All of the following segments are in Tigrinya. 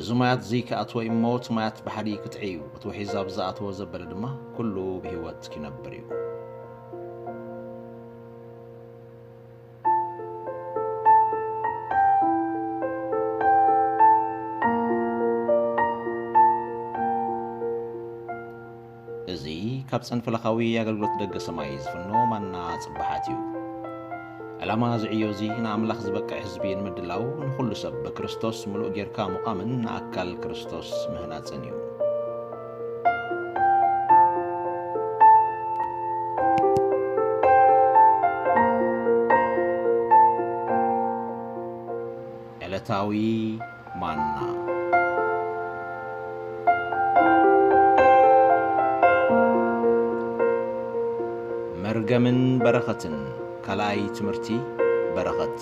እዚ ማያትዚ ክኣትዎ እዩ እሞ እቲ ማያት ባሕሪ ክጥዒ እዩ፣ እቲ ውሒዝ ኣብ ዝኣተዎ ዘበለ ድማ ኩሉ ብህይወት ኪነብር እዩ። እዚ ካብ ጸንፍለኻዊ ኣገልግሎት ደገ ሰማይ ዝፍኖ ማና ጽባሓት እዩ። ዕላማ እዚ ዕዮ እዚ ንኣምላኽ ዝበቅዕ ህዝቢ ንምድላው ንኹሉ ሰብ ብክርስቶስ ምሉእ ጌርካ ምቛምን ንኣካል ክርስቶስ ምህናጽን እዩ። ዕለታዊ ማና። መርገምን በረኸትን ካልኣይ ትምህርቲ በረኸት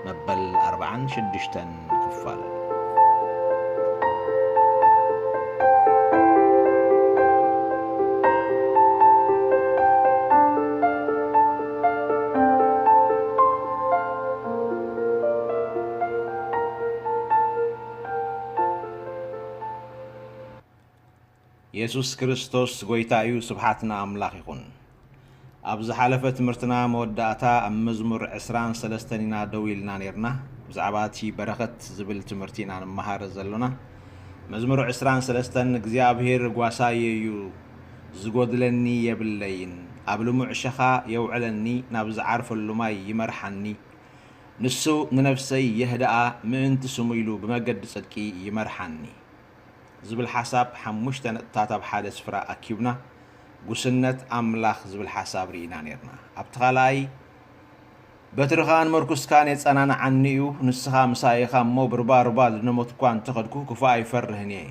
መበል ኣርብዓን ሽዱሽተን ክፋል የሱስ ክርስቶስ ጎይታ እዩ ስብሓት ንኣምላኽ ይኹን። ኣብ ዝሓለፈ ትምህርትና መወዳእታ ኣብ መዝሙር ዕስራን ሰለስተን ኢና ደው ኢልና ኔርና። ብዛዕባ እቲ በረኸት ዝብል ትምህርቲ ኢና ንመሃር ዘሎና። መዝሙር ዕስራን ሰለስተን እግዚኣብሄር ጓሳየ እዩ ዝጎድለኒ የብለይን፣ ኣብ ልሙዕ ሸኻ የውዕለኒ ናብ ዝዓርፈሉ ማይ ይመርሓኒ፣ ንሱ ንነፍሰይ የህድኣ ምእንቲ ስሙ ኢሉ ብመገዲ ጽድቂ ይመርሓኒ። ዝብል ሓሳብ ሓሙሽተ ነጥብታት ኣብ ሓደ ስፍራ ኣኪብና ጉስነት ኣምላኽ ዝብል ሓሳብ ርኢና ኔርና። ኣብቲ ካልኣይ በትርኻን ምርኩስካን የጸናንዓኒ እዩ፣ ንስኻ ምሳይ ኢኻ እሞ ብርባ ርባ ዝነሞት እኳ እንተ ኸድኩ ክፉእ ኣይፈርህን እየ፣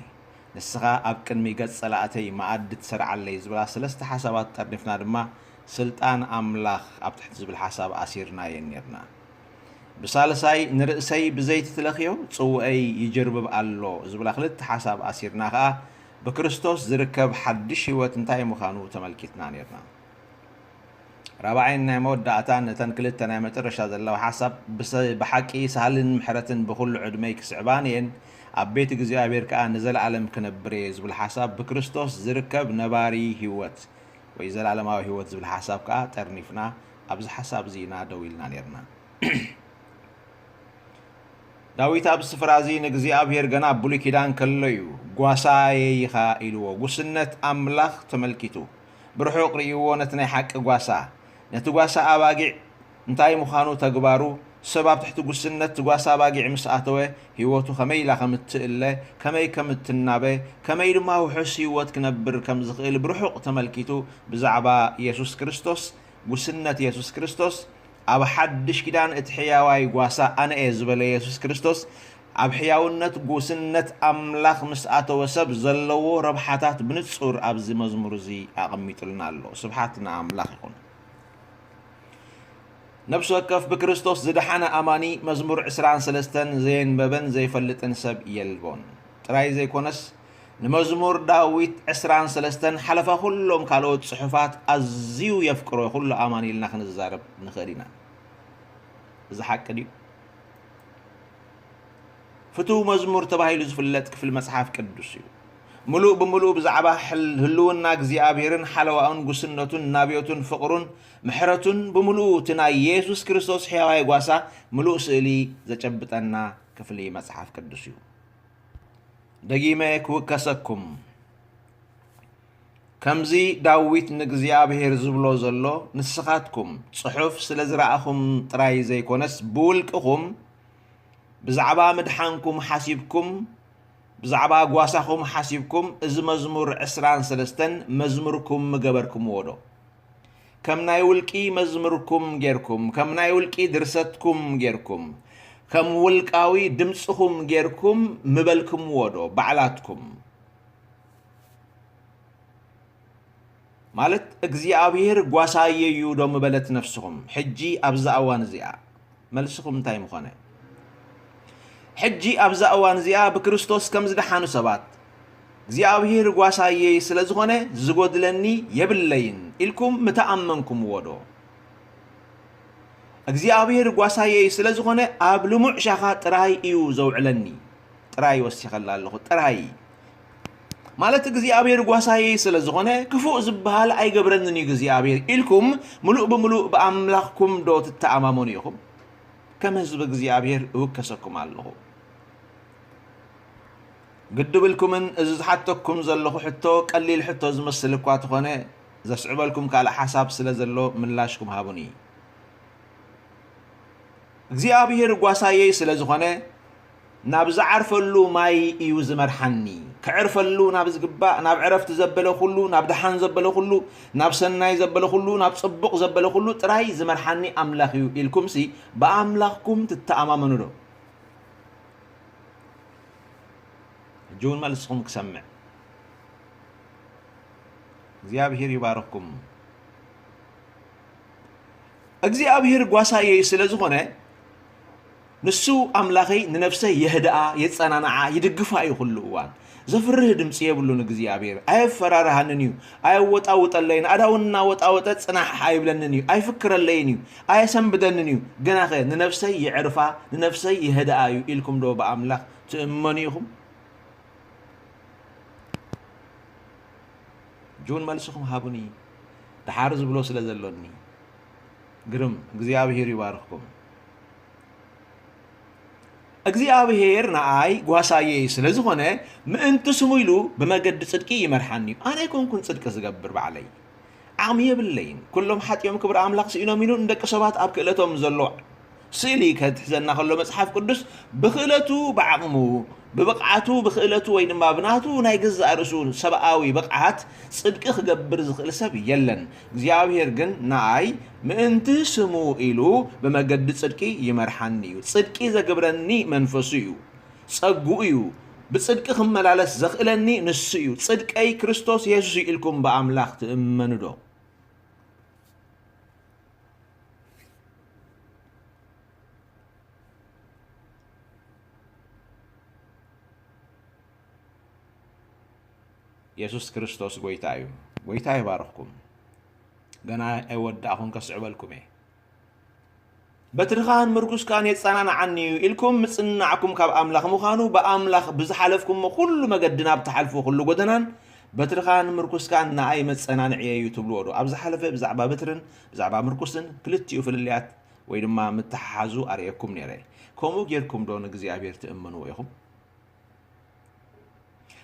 ንስኻ ኣብ ቅድሚ ገጽ ጸላእተይ መኣዲ ትሰርዓለይ ዝብላ ሰለስተ ሓሳባት ጠርኒፍና ድማ ስልጣን ኣምላኽ ኣብ ትሕቲ ዝብል ሓሳብ ኣሲርናየን ኔርና። ብሳልሳይ ንርእሰይ ብዘይቲ ትለኽዮ ጽውእይ ይጅርብብ ኣሎ ዝብላ ክልተ ሓሳብ ኣሲርና ከኣ ብክርስቶስ ዝርከብ ሓድሽ ሕይወት እንታይ ምኻኑ ተመልኪትና ኔርና። ራብዓይን ናይ መወዳእታን ነተን ክልተ ናይ መጨረሻ ዘለዋ ሓሳብ ብሓቂ ሳህልን ምሕረትን ብኹሉ ዕድመይ ክስዕባንየን ኣብ ቤት እግዚኣብሔር ከኣ ንዘለዓለም ክነብርየ ዝብል ሓሳብ ብክርስቶስ ዝርከብ ነባሪ ሕይወት ወይ ዘልኣለማዊ ህይወት ዝብል ሓሳብ ከኣ ጠርኒፍና ኣብዚ ሓሳብ እዚ ኢና ደው ኢልና ኔርና። ዳዊት ኣብዚ ስፍራ እዚ ንእግዚኣብሄር ገና ኣብ ብሉይ ኪዳን ከሎ እዩ ጓሳየይ ኢኻ ኢልዎ። ጉስነት ኣምላኽ ተመልኪቱ ብርሑቕ ርእይዎ ነቲ ናይ ሓቂ ጓሳ ነቲ ጓሳ ኣባጊዕ እንታይ ምዃኑ ተግባሩ፣ ሰብ ኣብ ትሕቲ ጉስነት'ቲ ጓሳ ኣባጊዕ ምስ ኣተወ ህይወቱ ከመይ ኢላ ከም እትእለ፣ ከመይ ከም እትናበ፣ ከመይ ድማ ውሑስ ህይወት ክነብር ከም ዝኽእል ብርሑቕ ተመልኪቱ ብዛዕባ የሱስ ክርስቶስ፣ ጉስነት የሱስ ክርስቶስ፣ ኣብ ሓድሽ ኪዳን እቲ ሕያዋይ ጓሳ ኣነ እየ ዝበለ የሱስ ክርስቶስ ኣብ ሕያውነት ጉስነት ኣምላኽ ምስ ኣተወ ሰብ ዘለዎ ረብሓታት ብንጹር ኣብዚ መዝሙር እዚ ኣቐሚጡልና ኣሎ። ስብሓት ንኣምላኽ ይኹን። ነፍሲ ወከፍ ብክርስቶስ ዝደሓነ ኣማኒ መዝሙር ዕስራን ሰለስተን ዘየንበበን ዘይፈልጥን ሰብ የልቦን ጥራይ ዘይኮነስ ንመዝሙር ዳዊት ዕስራን ሰለስተን ሓለፋ ኩሎም ካልኦት ጽሑፋት ኣዝዩ የፍቅሮ ኩሉ ኣማኒ ኢልና ክንዛረብ ንኽእል ኢና። እዚ ሓቂ ድዩ? ፍቱው መዝሙር ተባሂሉ ዝፍለጥ ክፍሊ መጽሓፍ ቅዱስ እዩ። ምሉእ ብምሉእ ብዛዕባ ህልውና እግዚኣብሔርን ሓለዋኡን ጉስነቱን ናብዮቱን ፍቕሩን ምሕረቱን ብምሉኡ እቲ ናይ የሱስ ክርስቶስ ሕያዋይ ጓሳ ምሉእ ስእሊ ዘጨብጠና ክፍሊ መጽሓፍ ቅዱስ እዩ። ደጊመ ክውከሰኩም ከምዚ ዳዊት ንእግዚኣብሄር ዝብሎ ዘሎ ንስኻትኩም ጽሑፍ ስለ ዝረኣኹም ጥራይ ዘይኮነስ ብውልቅኹም ብዛዕባ ምድሓንኩም ሓሲብኩም ብዛዕባ ጓሳኹም ሓሲብኩም እዚ መዝሙር ዕስራን ሰለስተን መዝሙርኩም ምገበርክምዎ ዶ ከም ናይ ውልቂ መዝሙርኩም ጌርኩም ከም ናይ ውልቂ ድርሰትኩም ጌርኩም ከም ውልቃዊ ድምጽኹም ጌርኩም ምበልክምዎ ዶ ባዕላትኩም ማለት እግዚኣብሄር ጓሳየ እዩ ዶ ምበለት ነፍስኹም ሕጂ ኣብዛ እዋን እዚኣ? መልስኹም እንታይ ምኾነ? ሕጂ ኣብዛ እዋን እዚኣ ብክርስቶስ ከም ዝደሓኑ ሰባት እግዚኣብሄር ጓሳየ ስለ ዝኾነ ዝጎድለኒ የብለይን ኢልኩም ምተኣመንኩምዎ ዶ? እግዚኣብሄር ጓሳየ ስለ ዝኾነ ኣብ ልሙዕ ሻኻ ጥራይ እዩ ዘውዕለኒ። ጥራይ ወሲኸላ ኣለኹ፣ ጥራይ። ማለት እግዚኣብሔር ጓሳዬ ስለ ዝኾነ ክፉእ ዝበሃል ኣይገብረንን እዩ እግዚኣብሔር ኢልኩም ምሉእ ብምሉእ ብኣምላኽኩም ዶ ትተኣማመኑ ኢኹም? ከም ህዝቢ እግዚኣብሔር እውከሰኩም ኣለኹ። ግዲ ብልኩምን እዚ ዝሓተኩም ዘለኹ ሕቶ ቀሊል ሕቶ ዝመስል እኳ ተኾነ ዘስዕበልኩም ካልእ ሓሳብ ስለ ዘሎ ምላሽኩም ሃቡኒ። እግዚኣብሔር ጓሳዬ ስለ ዝኾነ ናብ ዝዓርፈሉ ማይ እዩ ዝመርሓኒ፣ ከዕርፈሉ ናብ ዝግባእ፣ ናብ ዕረፍቲ ዘበለ ኩሉ፣ ናብ ደሓን ዘበለ ኩሉ፣ ናብ ሰናይ ዘበለ ኩሉ፣ ናብ ጽቡቕ ዘበለ ኩሉ ጥራይ ዝመርሓኒ ኣምላኽ እዩ ኢልኩምሲ ብኣምላኽኩም ትተኣማመኑዶ? ሕጂ እውን መልስኹም ክሰምዕ። እግዚኣብሔር ይባርኽኩም። እግዚኣብሔር ጓሳየይ ስለ ዝኾነ ንሱ ኣምላኸይ ንነፍሰይ የህድኣ የጸናንዓ ይድግፋ እዩ ኩሉ እዋን። ዘፍርህ ድምጺ የብሉን እግዚኣብሄር። ኣየፈራርሃንን እዩ፣ ኣየወጣውጠለይን፣ ኣዳውን እናወጣወጠ ጽናሕ ኣይብለንን እዩ፣ ኣይፍክረለይን እዩ፣ ኣየሰንብደንን እዩ። ግናኸ ንነፍሰይ የዕርፋ ንነፍሰይ የህድኣ እዩ ኢልኩምዶ ብኣምላኽ ትእመኑ ኢኹም? ጁን መልስኹም ሃቡኒ ደሓር ዝብሎ ስለ ዘሎኒ። ግርም እግዚኣብሔር ይባርክኩም። እግዚኣብሔር ንኣይ ጓሳየ እዩ ስለ ዝኾነ ምእንቲ ስሙ ኢሉ ብመገዲ ጽድቂ ይመርሓኒ እዩ ኣነ ኣይኮንኩን ጽድቂ ዝገብር ባዕለይ ዓቕሚ የብለይን ኩሎም ሓጢኦም ክብሪ ኣምላኽ ስኢኖም ኢሉ ንደቂ ሰባት ኣብ ክእለቶም ዘሎ ስእሊ ከትሕዘና ከሎ መጽሓፍ ቅዱስ ብክእለቱ ብዓቕሙ ብብቕዓቱ ብክእለቱ ወይ ድማ ብናቱ ናይ ገዛእ ርእሱ ሰብኣዊ ብቕዓት ጽድቂ ክገብር ዝኽእል ሰብ የለን እግዚኣብሄር ግን ንኣይ ምእንቲ ስሙ ኢሉ ብመገዲ ጽድቂ ይመርሓኒ እዩ። ጽድቂ ዘግብረኒ መንፈሱ እዩ፣ ጸግኡ እዩ፣ ብጽድቂ ክመላለስ ዘኽእለኒ ንሱ እዩ። ጽድቀይ ክርስቶስ የሱስ እዩ ኢልኩም ብኣምላኽ ትእመኑዶ? የሱስ ክርስቶስ ጎይታ እዩ ጎይታ ይባርኽኩም ገና ኣይወዳእኹን ከስዕበልኩም እየ በትርኻን ምርኩስካን የጸናንዓኒ እዩ ኢልኩም ምጽናዕኩም ካብ ኣምላኽ ምዃኑ ብኣምላኽ ብዝሓለፍኩሞ ኩሉ መገዲ ናብ ትሓልፉ ኩሉ ጎደናን በትርኻን ምርኩስካን ንኣይ መጸናንዕየ እዩ ትብልዎ ዶ ኣብ ዝሓለፈ ብዛዕባ በትርን ብዛዕባ ምርኩስን ክልቲኡ ፍልልያት ወይ ድማ ምትሓሓዙ ኣርእየኩም ነይረ ከምኡ ጌርኩም ዶ ንእግዚኣብሔር ትእምንዎ ኢኹም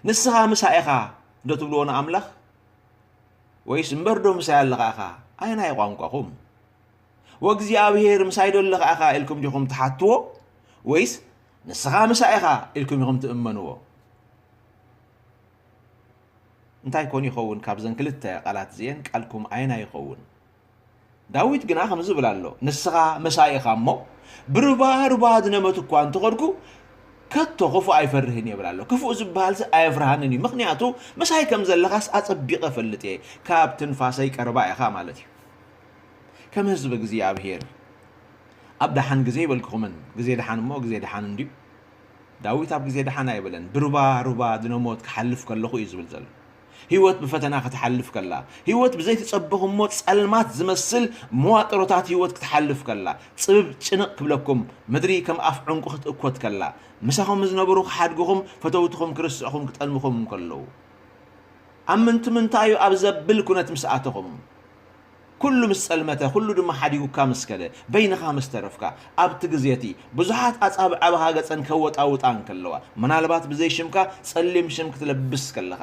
ንስኻ ምሳይ ኢኻ ዶ ትብልዎ ንኣምላኽ ወይስ እምበር ዶ ምሳይ ኣለኻ ኢኻ ኣየናይ ቋንቋኹም ወእግዚኣብሄር ምሳይ ዶ ኣለኻ ኢኻ ኢልኩም ዲኹም ትሓትዎ ወይስ ንስኻ ምሳይ ኢኻ ኢልኩም ኢኹም ትእመንዎ እንታይ ኮን ይኸውን ካብዘን ክልተ ቃላት እዚኤን ቃልኩም ኣየናይ ይኸውን ዳዊት ግና ከምዚ ይብል ኣሎ፣ ንስኻ ምሳይ ኢኻ እሞ፣ ብሩባ ሩባ ዝነመቱ እኳ እንተ ኸድኩ፣ ከቶ ኽፉእ ኣይፈርህን ይብል ኣሎ። ክፉእ ዝበሃልሲ ኣየፍርሃንን እዩ፣ ምኽንያቱ ምሳይ ከም ዘለኻስ ኣጸቢቐ እፈልጥ እየ፣ ካብ ትንፋሰይ ቀረባ ኢኻ ማለት እዩ። ከም ህዝቢ እግዚኣብሄር ኣብ ደሓን ግዜ ይበልኩኹምን፣ ግዜ ደሓን እሞ ግዜ ደሓን እንድዩ። ዳዊት ኣብ ግዜ ደሓን ኣይበለን፣ ብሩባ ሩባ ድነሞት ክሓልፍ ከለኹ እዩ ዝብል ዘሎ። ህይወት ብፈተና ክትሓልፍ ከላ፣ ህይወት ብዘይተጸበኹሞ ጸልማት ዝመስል መዋጥሮታት ህይወት ክትሓልፍ ከላ፣ ጽብብ ጭንቕ ክብለኩም፣ ምድሪ ከም ኣፍ ዑንቊ ክትእኮት ከላ፣ ምሳኹም ዝነበሩ ክሓድጉኹም፣ ፈተውትኹም ክርስዑኹም ክጠልሙኹም እንከለዉ። ኣምንቱ ምንታዩ ኣብ ዘብል ኩነት ምስ ኣተኹም፣ ኵሉ ምስ ጸልመተ፣ ኵሉ ድማ ሓዲጉካ ምስ ከደ፣ በይንኻ ምስ ተረፍካ፣ ኣብቲ ግዜ እቲ፣ ብዙሓት ኣጻብዕ ኣብ ሃገጸን ከወጣውጣ እንከለዋ፣ ምናልባት ብዘይ ሽምካ ጸሊም ሽም ክትለብስ ከለኻ፣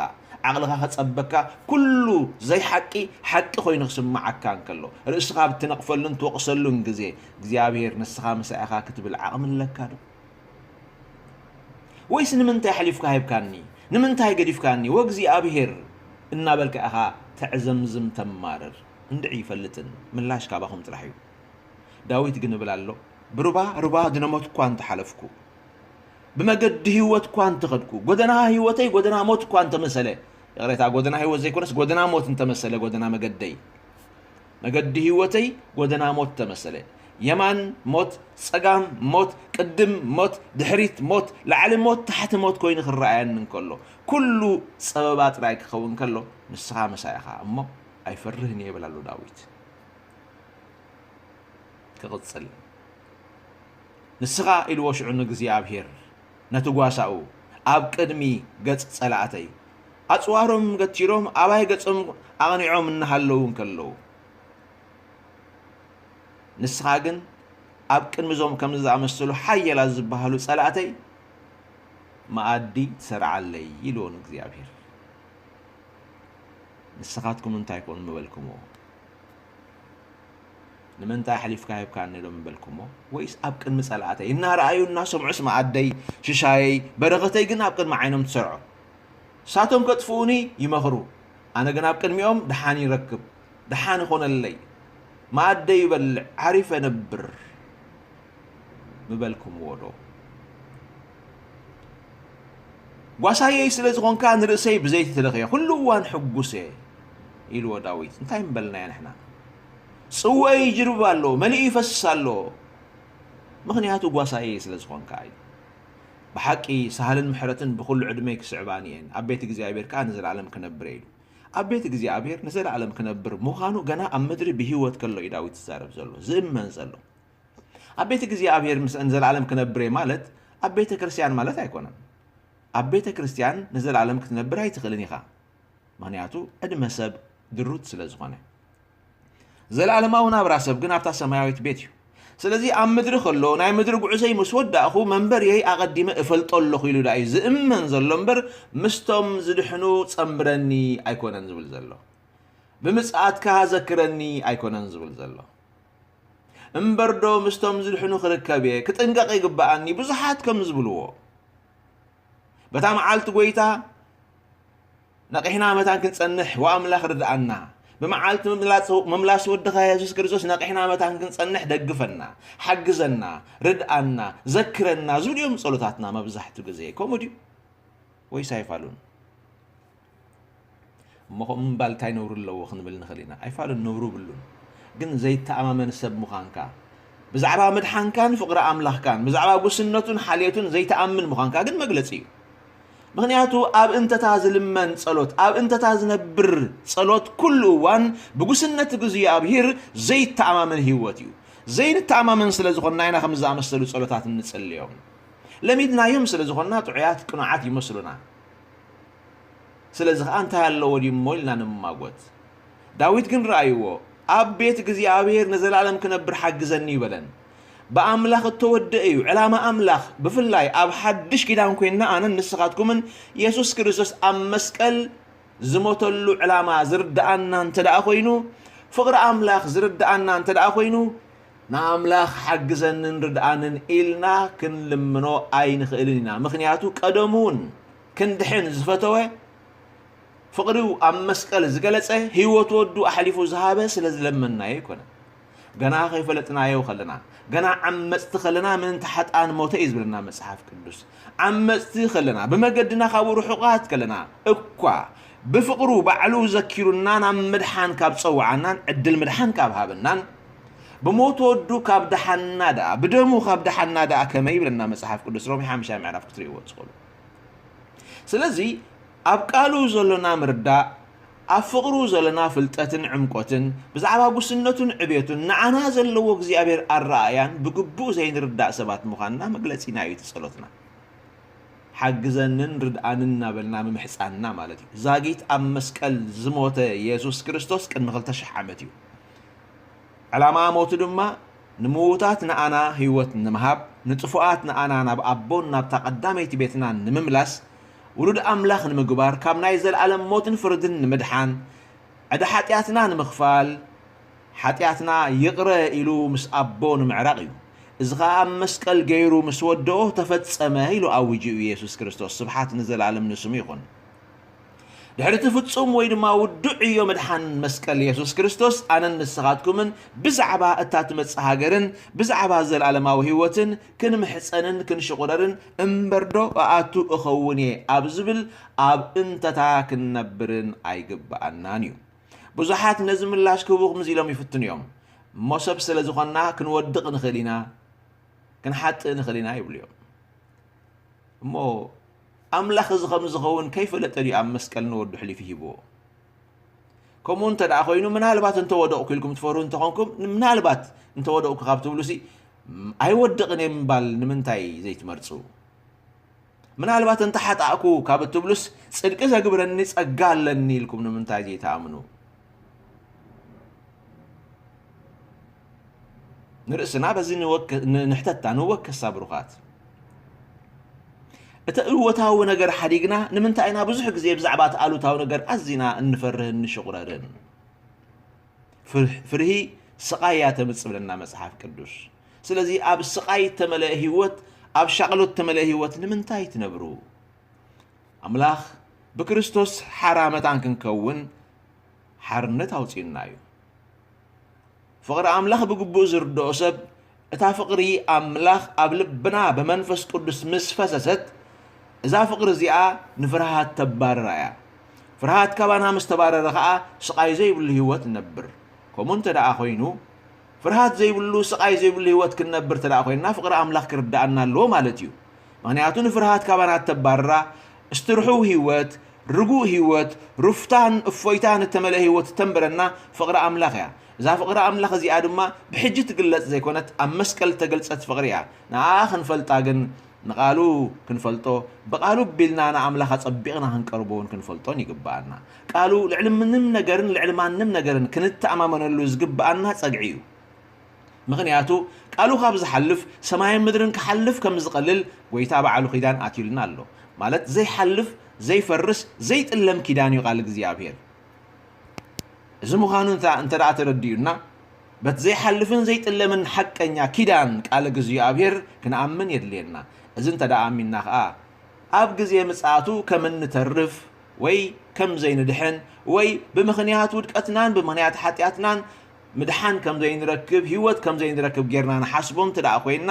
ዓቕልኻ ከጸበካ፣ ኵሉ ዘይሓቂ ሓቂ ኰይኑ ክስምዓካ እንከሎ፣ ርእስኻ ኣብ እትነቕፈሉን ትወቕሰሉን ግዜ፣ እግዚኣብሄር ንስኻ ምሳይ ኢኻ ክትብል ዓቕሚ ኣለካዶ? ወይስ ንምንታይ ኣሕሊፍካ ሂብካኒ ንምንታይ ገዲፍካኒ ወእግዚኣብሄር እናበልካ ኢኻ ተዕዘምዝም ተማርር እንድዒ ይፈልጥን ምላሽ ካባኹም ጥራሕ እዩ ዳዊት ግን እብል ኣሎ ብሩባ ሩባ ድነሞት እኳ እንተሓለፍኩ ብመገዲ ህይወት እኳ እንተኸድኩ ጎደና ህይወተይ ጎደና ሞት እኳ እንተመሰለ ይቕሬታ ጎደና ህይወት ዘይኮነስ ጎደና ሞት እንተመሰለ ጎደና መገደይ መገዲ ህይወተይ ጎደና ሞት ተመሰለ። የማን ሞት፣ ጸጋም ሞት፣ ቅድም ሞት፣ ድሕሪት ሞት፣ ላዕሊ ሞት፣ ታሕቲ ሞት ኮይኑ ክረኣየኒ እንከሎ፣ ኩሉ ጸበባ ጥራይ ክኸውን ከሎ፣ ንስኻ ምሳይ ኢኻ እሞ ኣይፈርህን እየ ይብል ኣሎ ዳዊት። ክቕጽል ንስኻ ኢልዎ ሽዑ ንእግዚኣብሄር ነቲ ጓሳኡ ኣብ ቅድሚ ገጽ ጸላእተይ ኣጽዋሮም ገቲሮም ኣባይ ገጾም ኣቕኒዖም እናሃለዉ እንከለዉ ንስኻ ግን ኣብ ቅድሚ እዞም ከምዚ ዝኣመሰሉ ሓየላት ዝበሃሉ ጸላእተይ መኣዲ ትሰርዓለይ ኢልዎ ንእግዚኣብሔር ንስኻትኩም እንታይ ኮን ምበልክምዎ ንምንታይ ኣሕሊፍካ ሂብካኒ ዶ ምበልኩሞ ወይስ ኣብ ቅድሚ ጸላእተይ እናረኣዩ እናሰምዑስ መኣደይ ሽሻየይ በረኸተይ ግን ኣብ ቅድሚ ዓይኖም ትሰርዖ ንሳቶም ከጥፍኡኒ ይመኽሩ ኣነ ግን ኣብ ቅድሚኦም ድሓን ይረክብ ድሓን ይኾነለይ መኣደይ ይበልዕ ዓሪፈ ነብር ምበልኩምዎ ዶ ጓሳየይ ስለ ዝኾንካ ንርእሰይ ብዘይቲ ትለኽዮ ኩሉ እዋን ሕጉስ እየ ኢልዎ ዳዊት እንታይ ምበልናዮ ንሕና ጽወይ ይጅርብ ኣሎ መሊኡ ይፈስስ ኣሎ ምኽንያቱ ጓሳየይ ስለ ዝኾንካ እዩ ብሓቂ ሳህልን ምሕረትን ብኹሉ ዕድመይ ክስዕባኒ እየን ኣብ ቤት እግዚኣብሔር ከኣ ንዘለኣለም ክነብር እየ ኢሉ ኣብ ቤት እግዚኣብሔር ንዘለኣለም ክነብር ምዃኑ ገና ኣብ ምድሪ ብህይወት ከሎ እዩ ዳዊት ዝዛረብ ዘሎ ዝእመን ዘሎ ኣብ ቤት እግዚኣብሔር ምስ ንዘለኣለም ክነብር እየ ማለት ኣብ ቤተ ክርስቲያን ማለት ኣይኮነን ኣብ ቤተ ክርስቲያን ንዘለኣለም ክትነብር ኣይትኽእልን ኢኻ ምኽንያቱ ዕድመ ሰብ ድሩት ስለ ዝኾነ። ዘለኣለማዊ ናብራ ሰብ ግን ኣብታ ሰማያዊት ቤት እዩ። ስለዚ ኣብ ምድሪ ከሎ ናይ ምድሪ ጉዕዘይ ምስ ወዳእኹ መንበርየይ ኣቐዲመ እፈልጦ ኣለኹ ኢሉ ደኣ እዩ ዝእመን ዘሎ እምበር ምስቶም ዝድሕኑ ጸምብረኒ ኣይኮነን ዝብል ዘሎ ብምጽኣትካ ዘክረኒ ኣይኮነን ዝብል ዘሎ እምበርዶ ምስቶም ዝድሕኑ ክርከብ እየ ክጥንቀቕ ይግባኣኒ ብዙሓት ከም ዝብልዎ በታ መዓልቲ ጐይታ ነቒሕና መታን ክንጸንሕ ወኣምላኽ ርድኣና። ብመዓልቲ ምምላስ ወድኻ የሱስ ክርስቶስ ነቒሕና መታን ክንጸንሕ ደግፈና፣ ሓግዘና፣ ርድኣና፣ ዘክረና ዝብሉ እዮም ጸሎታትና መብዛሕትኡ ግዜ። ከምኡ ድዩ? ወይስ ኣይፋሉን? እሞ ከምኡ ምባል እንታይ ነውሪ ኣለዎ ክንብል ንኽእል ኢና? ኣይፋሉን፣ ነውሪ የብሉን። ግን ዘይተኣማመን ሰብ ምዃንካ፣ ብዛዕባ ምድሓንካን ፍቕሪ ኣምላኽካን፣ ብዛዕባ ጉስነቱን ሓልዮቱን ዘይትኣምን ምዃንካ ግን መግለጺ እዩ። ምኽንያቱ ኣብ እንተታ ዝልመን ጸሎት፣ ኣብ እንተታ ዝነብር ጸሎት ኩሉ እዋን ብጉስነት እግዚኣብሂር ዘይተኣማመን ህይወት እዩ። ዘይንተኣማመን ስለ ዝኾንና ኢና ከምዚ ዝኣመሰሉ ጸሎታት እንጽልዮም። ለሚድናዮም ስለ ዝኾንና ጥዑያት ቅኑዓት ይመስሉና። ስለዚ ኸኣ እንታይ ኣለዎ ድዩ እሞ ኢልና ንምማጐት። ዳዊት ግን ርኣይዎ፣ ኣብ ቤት እግዚኣብሄር ንዘለኣለም ክነብር ሓግዘኒ እዩ በለን። ብኣምላኽ እተወድእ እዩ ዕላማ ኣምላኽ፣ ብፍላይ ኣብ ሓድሽ ኪዳን ኰይንና ኣነን ንስኻትኩምን የሱስ ክርስቶስ ኣብ መስቀል ዝሞተሉ ዕላማ ዝርድኣና እንተደኣ ዀይኑ፣ ፍቕሪ ኣምላኽ ዝርድኣና እንተደኣ ዀይኑ፣ ንኣምላኽ ሓግዘንን ርድኣንን ኢልና ክንልምኖ ኣይንኽእልን ኢና፣ ምኽንያቱ ቀደሙውን ክንድሕን ዝፈተወ፣ ፍቕሪኡ ኣብ መስቀል ዝገለጸ፣ ህይወት ወዱ ኣሕሊፉ ዝሃበ ስለ ዝለመንናዮ ኣይኮነን። ገና ከይፈለጥናዮ ከለና፣ ገና ዓመጽቲ ከለና ምእንቲ ሓጥኣን ሞተ እዩ ዝብለና መጽሓፍ ቅዱስ። ዓመጽቲ ከለና፣ ብመገድና ካብኡ ርሑቓት ከለና እኳ፣ ብፍቕሩ ባዕሉ ዘኪሩና ናብ ምድሓን ካብ ጸውዓናን ዕድል ምድሓን ካብ ሃበናን፣ ብሞት ወዱ ካብ ደሓንና ደኣ ብደሙ ካብ ደሓንና ደኣ ከመይ ይብለና መጽሓፍ ቅዱስ ሮሜ ሓምሻይ ምዕራፍ ክትርእይዎ ትኽእሉ ስለዚ ኣብ ቃሉ ዘሎና ምርዳእ ኣብ ፍቕሩ ዘለና ፍልጠትን ዕምቆትን ብዛዕባ ጉስነቱን ዕቤቱን ንዓና ዘለዎ እግዚኣብሔር ኣረኣእያን ብግቡእ ዘይንርዳእ ሰባት ምዃንና መግለጺና እዩ እቲ ጸሎትና ሓግዘንን ርድኣንን እናበልና ምምሕፃንና ማለት እዩ ዛጊት ኣብ መስቀል ዝሞተ የሱስ ክርስቶስ ቅድሚ 2000 ዓመት እዩ ዕላማ ሞቱ ድማ ንምዉታት ንኣና ህይወት ንምሃብ ንጥፉኣት ንኣና ናብ ኣቦን ናብታ ቀዳመይቲ ቤትናን ንምምላስ ዉሉድ ኣምላኽ ንምግባር ካብ ናይ ዘለኣለም ሞትን ፍርድን ንምድሓን ዕዳ ሓጢኣትና ንምኽፋል ሓጢኣትና ይቕረ ኢሉ ምስ ኣቦ ንምዕራቕ እዩ እዚ ኸኣ ኣብ መስቀል ገይሩ ምስ ወደኦ ተፈጸመ ኢሉ ኣዊጁ እዩ የሱስ ክርስቶስ ስብሓት ንዘለኣለም ንስሙ ይኹን። ድሕሪ እቲ ፍጹም ወይ ድማ ውዱዕ ዕዮ ምድሓን መስቀል የሱስ ክርስቶስ ኣነን ንስኻትኩምን ብዛዕባ እታ ትመጽእ ሃገርን ብዛዕባ ዘለኣለማዊ ህይወትን ክንምሕጸንን ክንሽቑረርን እምበርዶ ኣኣቱ እኸውን እየ ኣብ ዝብል ኣብ እንተታ ክንነብርን ኣይግብኣናን እዩ ብዙሓት ነዚ ምላሽ ክህቡ ክምዚ ኢሎም ይፍትኑ እዮም እሞ ሰብ ስለ ዝኾንና ክንወድቕ ንኽእል ኢና ክንሓጥእ ንኽእል ኢና ይብሉ እዮም እሞ ኣምላኽ እዚ ኸም ዝኸውን ከይፈለጠ ድዩ ኣብ መስቀል ንወዱ ኣሕሊፉ ሂብዎ? ከምኡ እንተ ደኣ ዀይኑ ምናልባት እንተ ወደቕኩ ኢልኩም ትፈርሁ እንተ ዀንኩም፣ ምናልባት እንተ ወደቕኩ ካብ ትብሉሲ ኣይወድቕን እየ ምባል ንምንታይ ዘይትመርጹ? ምናልባት እንተ ሓጣእኩ ካብ እትብሉስ ጽድቂ ዘግብረኒ ጸጋ ኣለኒ ኢልኩም ንምንታይ ዘይትኣምኑ? ንርእስና በዚ ንሕተታ ንወከሳ ብሩኻት። እቲ እወታዊ ነገር ሓዲግና ንምንታይ ኢና ብዙሕ ግዜ ብዛዕባ እቲ ኣሉታዊ ነገር ኣዚና እንፈርህን ንሽቑረርን? ፍርሂ ስቓይ እያ ተምጽእ ብለና መጽሓፍ ቅዱስ። ስለዚ ኣብ ስቓይ እተመልአ ህይወት፣ ኣብ ሻቕሎት እተመልአ ህይወት ንምንታይ ትነብሩ? ኣምላኽ ብክርስቶስ ሓራ መታን ክንከውን ሓርነት ኣውጺኡና እዩ። ፍቕሪ ኣምላኽ ብግቡእ ዝርድኦ ሰብ እታ ፍቕሪ ኣምላኽ ኣብ ልብና ብመንፈስ ቅዱስ ምስ ፈሰሰት እዛ ፍቕሪ እዚኣ ንፍርሃት ተባርራ እያ። ፍርሃት ካባና ምስ ተባረረ ኸኣ ስቓይ ዘይብሉ ህይወት ንነብር። ከምኡ እንተ ደኣ ዀይኑ ፍርሃት ዘይብሉ ስቓይ ዘይብሉ ህይወት ክንነብር እንተ ደኣ ኰይንና ፍቕሪ ኣምላኽ ክርድኣና ኣለዎ ማለት እዩ። ምኽንያቱ ንፍርሃት ካባና እተባርራ እስቲ ርሑው ህይወት፣ ርጉእ ህይወት፣ ሩፍታን እፎይታን እተመልአ ህይወት እተንብረና ፍቕሪ ኣምላኽ እያ። እዛ ፍቕሪ ኣምላኽ እዚኣ ድማ ብሕጂ እትግለጽ ዘይኮነት ኣብ መስቀል እተገልጸት ፍቕሪ እያ። ንኣኣ ክንፈልጣ ግን ንቓሉ ክንፈልጦ ብቓሉ ኣቢልና ንኣምላኽ ኣጸቢቕና ክንቀርቦን ክንፈልጦን ይግብኣና። ቃሉ ልዕሊ ምንም ነገርን ልዕሊ ማንም ነገርን ክንተኣማመነሉ ዝግብኣና ጸግዒ እዩ። ምኽንያቱ ቃሉ ካብ ዝሓልፍ ሰማይን ምድርን ክሓልፍ ከም ዝቐልል ጎይታ ባዕሉ ኪዳን ኣትዩልና ኣሎ ማለት ዘይሓልፍ ዘይፈርስ ዘይጥለም ኪዳን እዩ ቃል እግዚኣብሔር እዚ ምዃኑ እንተደኣ ተረዲኡና በቲ ዘይሓልፍን ዘይጥለምን ሓቀኛ ኪዳን ቃል እግዚኣብሔር ክንኣምን የድልየና እዚ እንተደኣ ኣሚንና ከኣ ኣብ ግዜ ምጽኣቱ ከም እንተርፍ ወይ ከም ዘይንድሕን ወይ ብምኽንያት ውድቀትናን ብምኽንያት ሓጢኣትናን ምድሓን ከም ዘይንረክብ፣ ህይወት ከም ዘይንረክብ ጌርና ንሓስቦ እንተ ደኣ ዄንና፣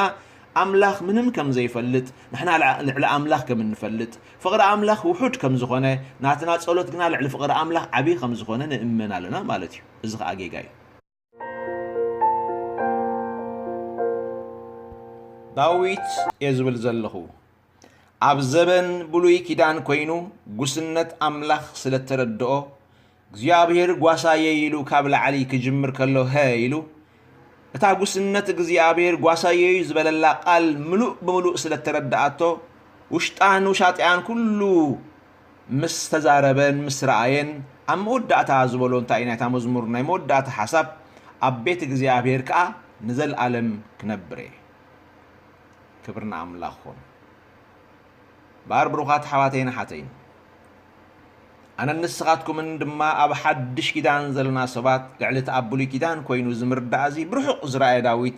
ኣምላኽ ምንም ከም ዘይፈልጥ፣ ንሕና ልዕሊ ኣምላኽ ከም እንፈልጥ፣ ፍቕሪ ኣምላኽ ውሑድ ከም ዝዀነ፣ ናትና ጸሎት ግና ልዕሊ ፍቕሪ ኣምላኽ ዓብዪ ኸም ዝዀነ ንእመን ኣሎና ማለት እዩ። እዚ ኸኣ ጌጋ እዩ። ዳዊት እየ ዝብል ዘለኹ። ኣብ ዘበን ብሉይ ኪዳን ኮይኑ ጉስነት ኣምላኽ ስለ እተረድኦ፣ እግዚኣብሄር ጓሳየይ ኢሉ ካብ ላዕሊ ክጅምር ከሎ ሀ ኢሉ፣ እታ ጉስነት እግዚኣብሄር ጓሳየይ'ዩ ዝበለላ ቃል ምሉእ ብምሉእ ስለ እተረድኣቶ፣ ውሽጣን ውሻጢኣን ኩሉ ምስ ተዛረበን ምስ ረኣየን ኣብ መወዳእታ ዝበሎ እንታይ'ዩ ናይታ መዝሙር ናይ መወዳእታ ሓሳብ ኣብ ቤት እግዚኣብሄር ከኣ ንዘልኣለም ክነብር'የ። ክብሪ ንኣምላኽ ይኹን እምበኣር ብሩኻት ኣሕዋተይን ኣሓተይን ኣነን ንስኻትኩምን ድማ ኣብ ሓድሽ ኪዳን ዘለና ሰባት ልዕሊ እቲ ኣብ ብሉይ ኪዳን ኮይኑ እዚ ምርዳእ እዚ ብርሑቕ ዝረኣየ ዳዊት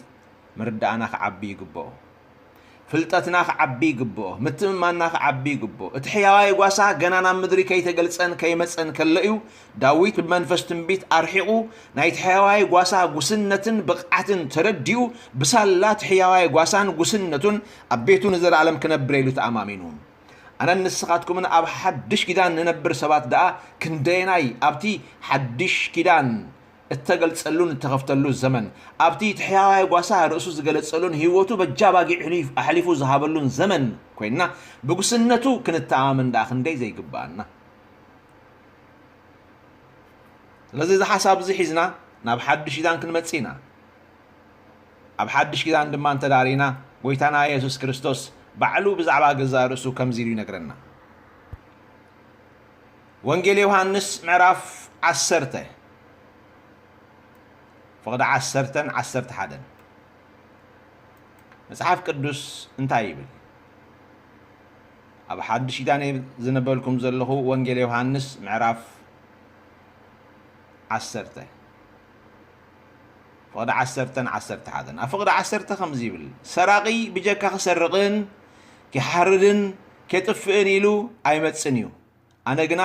ምርዳእና ክዓቢ ይግብኦ ፍልጠትና ክዓቢ ይግብኦ ምትምማና ክዓቢ ይግብኦ እቲ ሕያዋይ ጓሳ ገና ናብ ምድሪ ከይተገልጸን ከይመጸን ከሎ እዩ ዳዊት ብመንፈስ ትንቢት ኣርሒቑ ናይቲ ሕያዋይ ጓሳ ጉስነትን ብቕዓትን ተረዲኡ ብሳላ እቲ ሕያዋይ ጓሳን ጉስነቱን ኣብ ቤቱ ንዘለኣለም ክነብር ኢሉ ተኣማሚኑ። ኣነን ንስኻትኩምን ኣብ ሓድሽ ኪዳን ንነብር ሰባት ደኣ ክንደየናይ ኣብቲ ሓድሽ ኪዳን እተገልጸሉን እተኸፍተሉ ዘመን ኣብቲ እቲ ሕያዋይ ጓሳ ርእሱ ዝገለጸሉን ህይወቱ በጃ ኣባጊዕ ኣሕሊፉ ዝሃበሉን ዘመን ኰይንና ብጉስነቱ ክንተኣማመን ደኣ ክንደይ ዘይግብኣና ስለዚ እዚ ሓሳብ እዚ ሒዝና ናብ ሓድሽ ኪዳን ክንመጽእ ኢና። ኣብ ሓድሽ ኪዳን ድማ እንተ ርኢና ጎይታና የሱስ ክርስቶስ ባዕሉ ብዛዕባ ገዛእ ርእሱ ከምዚ ኢሉ ይነግረና። ወንጌል ዮሃንስ ምዕራፍ ዓሰርተ ፍቕዲ ዓሰርተን ዓሰርተ ሓደን መጽሓፍ ቅዱስ እንታይ ይብል? ኣብ ሓዱሽ ኪዳን እየ ዝንበልኩም ዘለኹ ወንጌል ዮሃንስ ምዕራፍ ዓሰርተ ፍቕዲ ዓሰርተን ዓሰርተ ሓደን ኣብ ፍቕዲ ዓሰርተ ከምዚ ይብል ሰራቒ ብጀካ ክሰርቕን ኪሓርድን ኬጥፍእን ኢሉ ኣይመጽን እዩ ኣነ ግና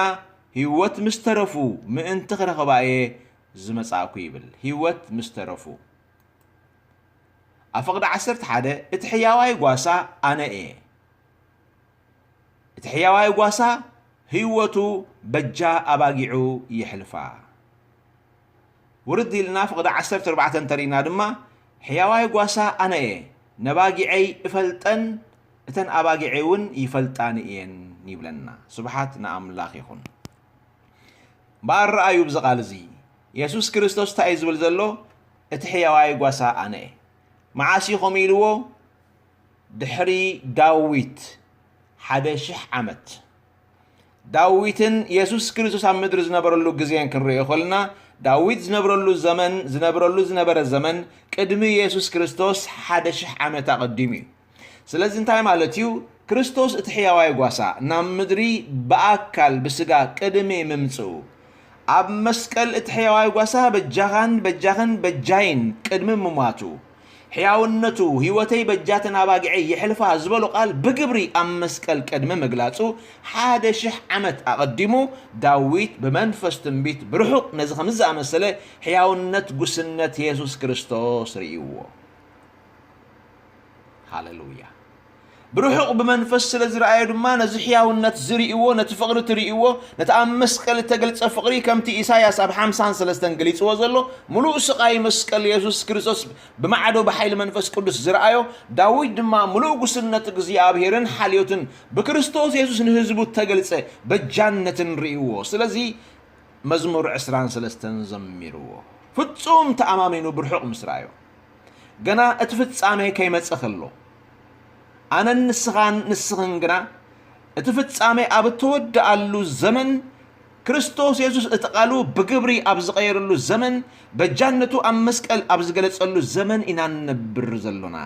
ህይወት ምስ ተረፉ ምእንቲ ክረኽባ እየ ዝመጻእኩ ይብል ህይወት ምስ ተረፉ ኣብ ፍቕዲ ዓሰርተ ሓደ እቲ ሕያዋይ ጓሳ ኣነ እየ። እቲ ሕያዋይ ጓሳ ህይወቱ በጃ ኣባጊዑ የሕልፋ። ውርድ ኢልና ፍቕዲ ዓሰርተ ኣርባዕተ እንተሪእና ድማ ሕያዋይ ጓሳ ኣነ እየ፣ ነባጊዐይ እፈልጠን እተን ኣባጊዐይ እውን ይፈልጣኒ እየን ይብለና። ስብሓት ንኣምላኽ ይኹን። እምበኣር ረኣዩ ብዚ ቃል እዚ የሱስ ክርስቶስ እንታይ እዩ ዝብል ዘሎ? እቲ ሕያዋይ ጓሳ ኣነ እየ። መዓስ እዩ ከምኡ ኢልዎ? ድሕሪ ዳዊት ሓደ ሽሕ ዓመት። ዳዊትን የሱስ ክርስቶስ ኣብ ምድሪ ዝነበረሉ ግዜን ክንርእዮ ከለና ዳዊት ዝነብረሉ ዘመን ዝነብረሉ ዝነበረ ዘመን ቅድሚ የሱስ ክርስቶስ ሓደ ሽሕ ዓመት ኣቐዲሙ እዩ። ስለዚ እንታይ ማለት እዩ? ክርስቶስ እቲ ሕያዋይ ጓሳ ናብ ምድሪ ብኣካል ብስጋ ቅድሚ ምምጽኡ ኣብ መስቀል እቲ ሕያዋይ ጓሳ በጃኻን በጃኽን በጃይን ቅድሚ ምሟቱ ሕያውነቱ ህይወተይ በጃተን ኣባጊዐይ የሕልፋ ዝበሎ ቃል ብግብሪ ኣብ መስቀል ቅድሚ ምግላጹ ሓደ ሽሕ ዓመት ኣቐዲሙ ዳዊት ብመንፈስ ትንቢት ብርሑቕ ነዚ ከምዚ ዝኣመሰለ ሕያውነት ጉስነት የሱስ ክርስቶስ ርእይዎ። ሃለሉያ! ብርሑቕ ብመንፈስ ስለ ዝረኣዮ ድማ ነዚ ሕያውነት ዝርእዎ፣ ነቲ ፍቕሪ እትርእዎ፣ ነቲ ኣብ መስቀል እተገልጸ ፍቕሪ ከምቲ ኢሳይያስ ኣብ ሓምሳን ሰለስተን ገሊጽዎ ዘሎ ምሉእ ስቓይ መስቀል የሱስ ክርስቶስ ብማዕዶ ብሓይሊ መንፈስ ቅዱስ ዝረኣዮ ዳዊት ድማ ምሉእ ጉስነት እግዚኣብሔርን ሓልዮትን ብክርስቶስ የሱስ ንህዝቡ እተገልጸ በጃነትን ርእዎ ስለዚ መዝሙር ዕስራን ሰለስተን ዘሚርዎ ፍጹም ተኣማሚኑ ብርሑቕ ምስ ረኣዮ ገና እቲ ፍጻሜ ከይመጸ ከሎ። ኣነን ንስኻን ንስኽን ግና እቲ ፍጻሜ ኣብ እተወድኣሉ ዘመን ክርስቶስ የሱስ እቲ ቓሉ ብግብሪ ኣብ ዝቐየረሉ ዘመን በጃነቱ ኣብ መስቀል ኣብ ዝገለጸሉ ዘመን ኢና ንነብር ዘሎና።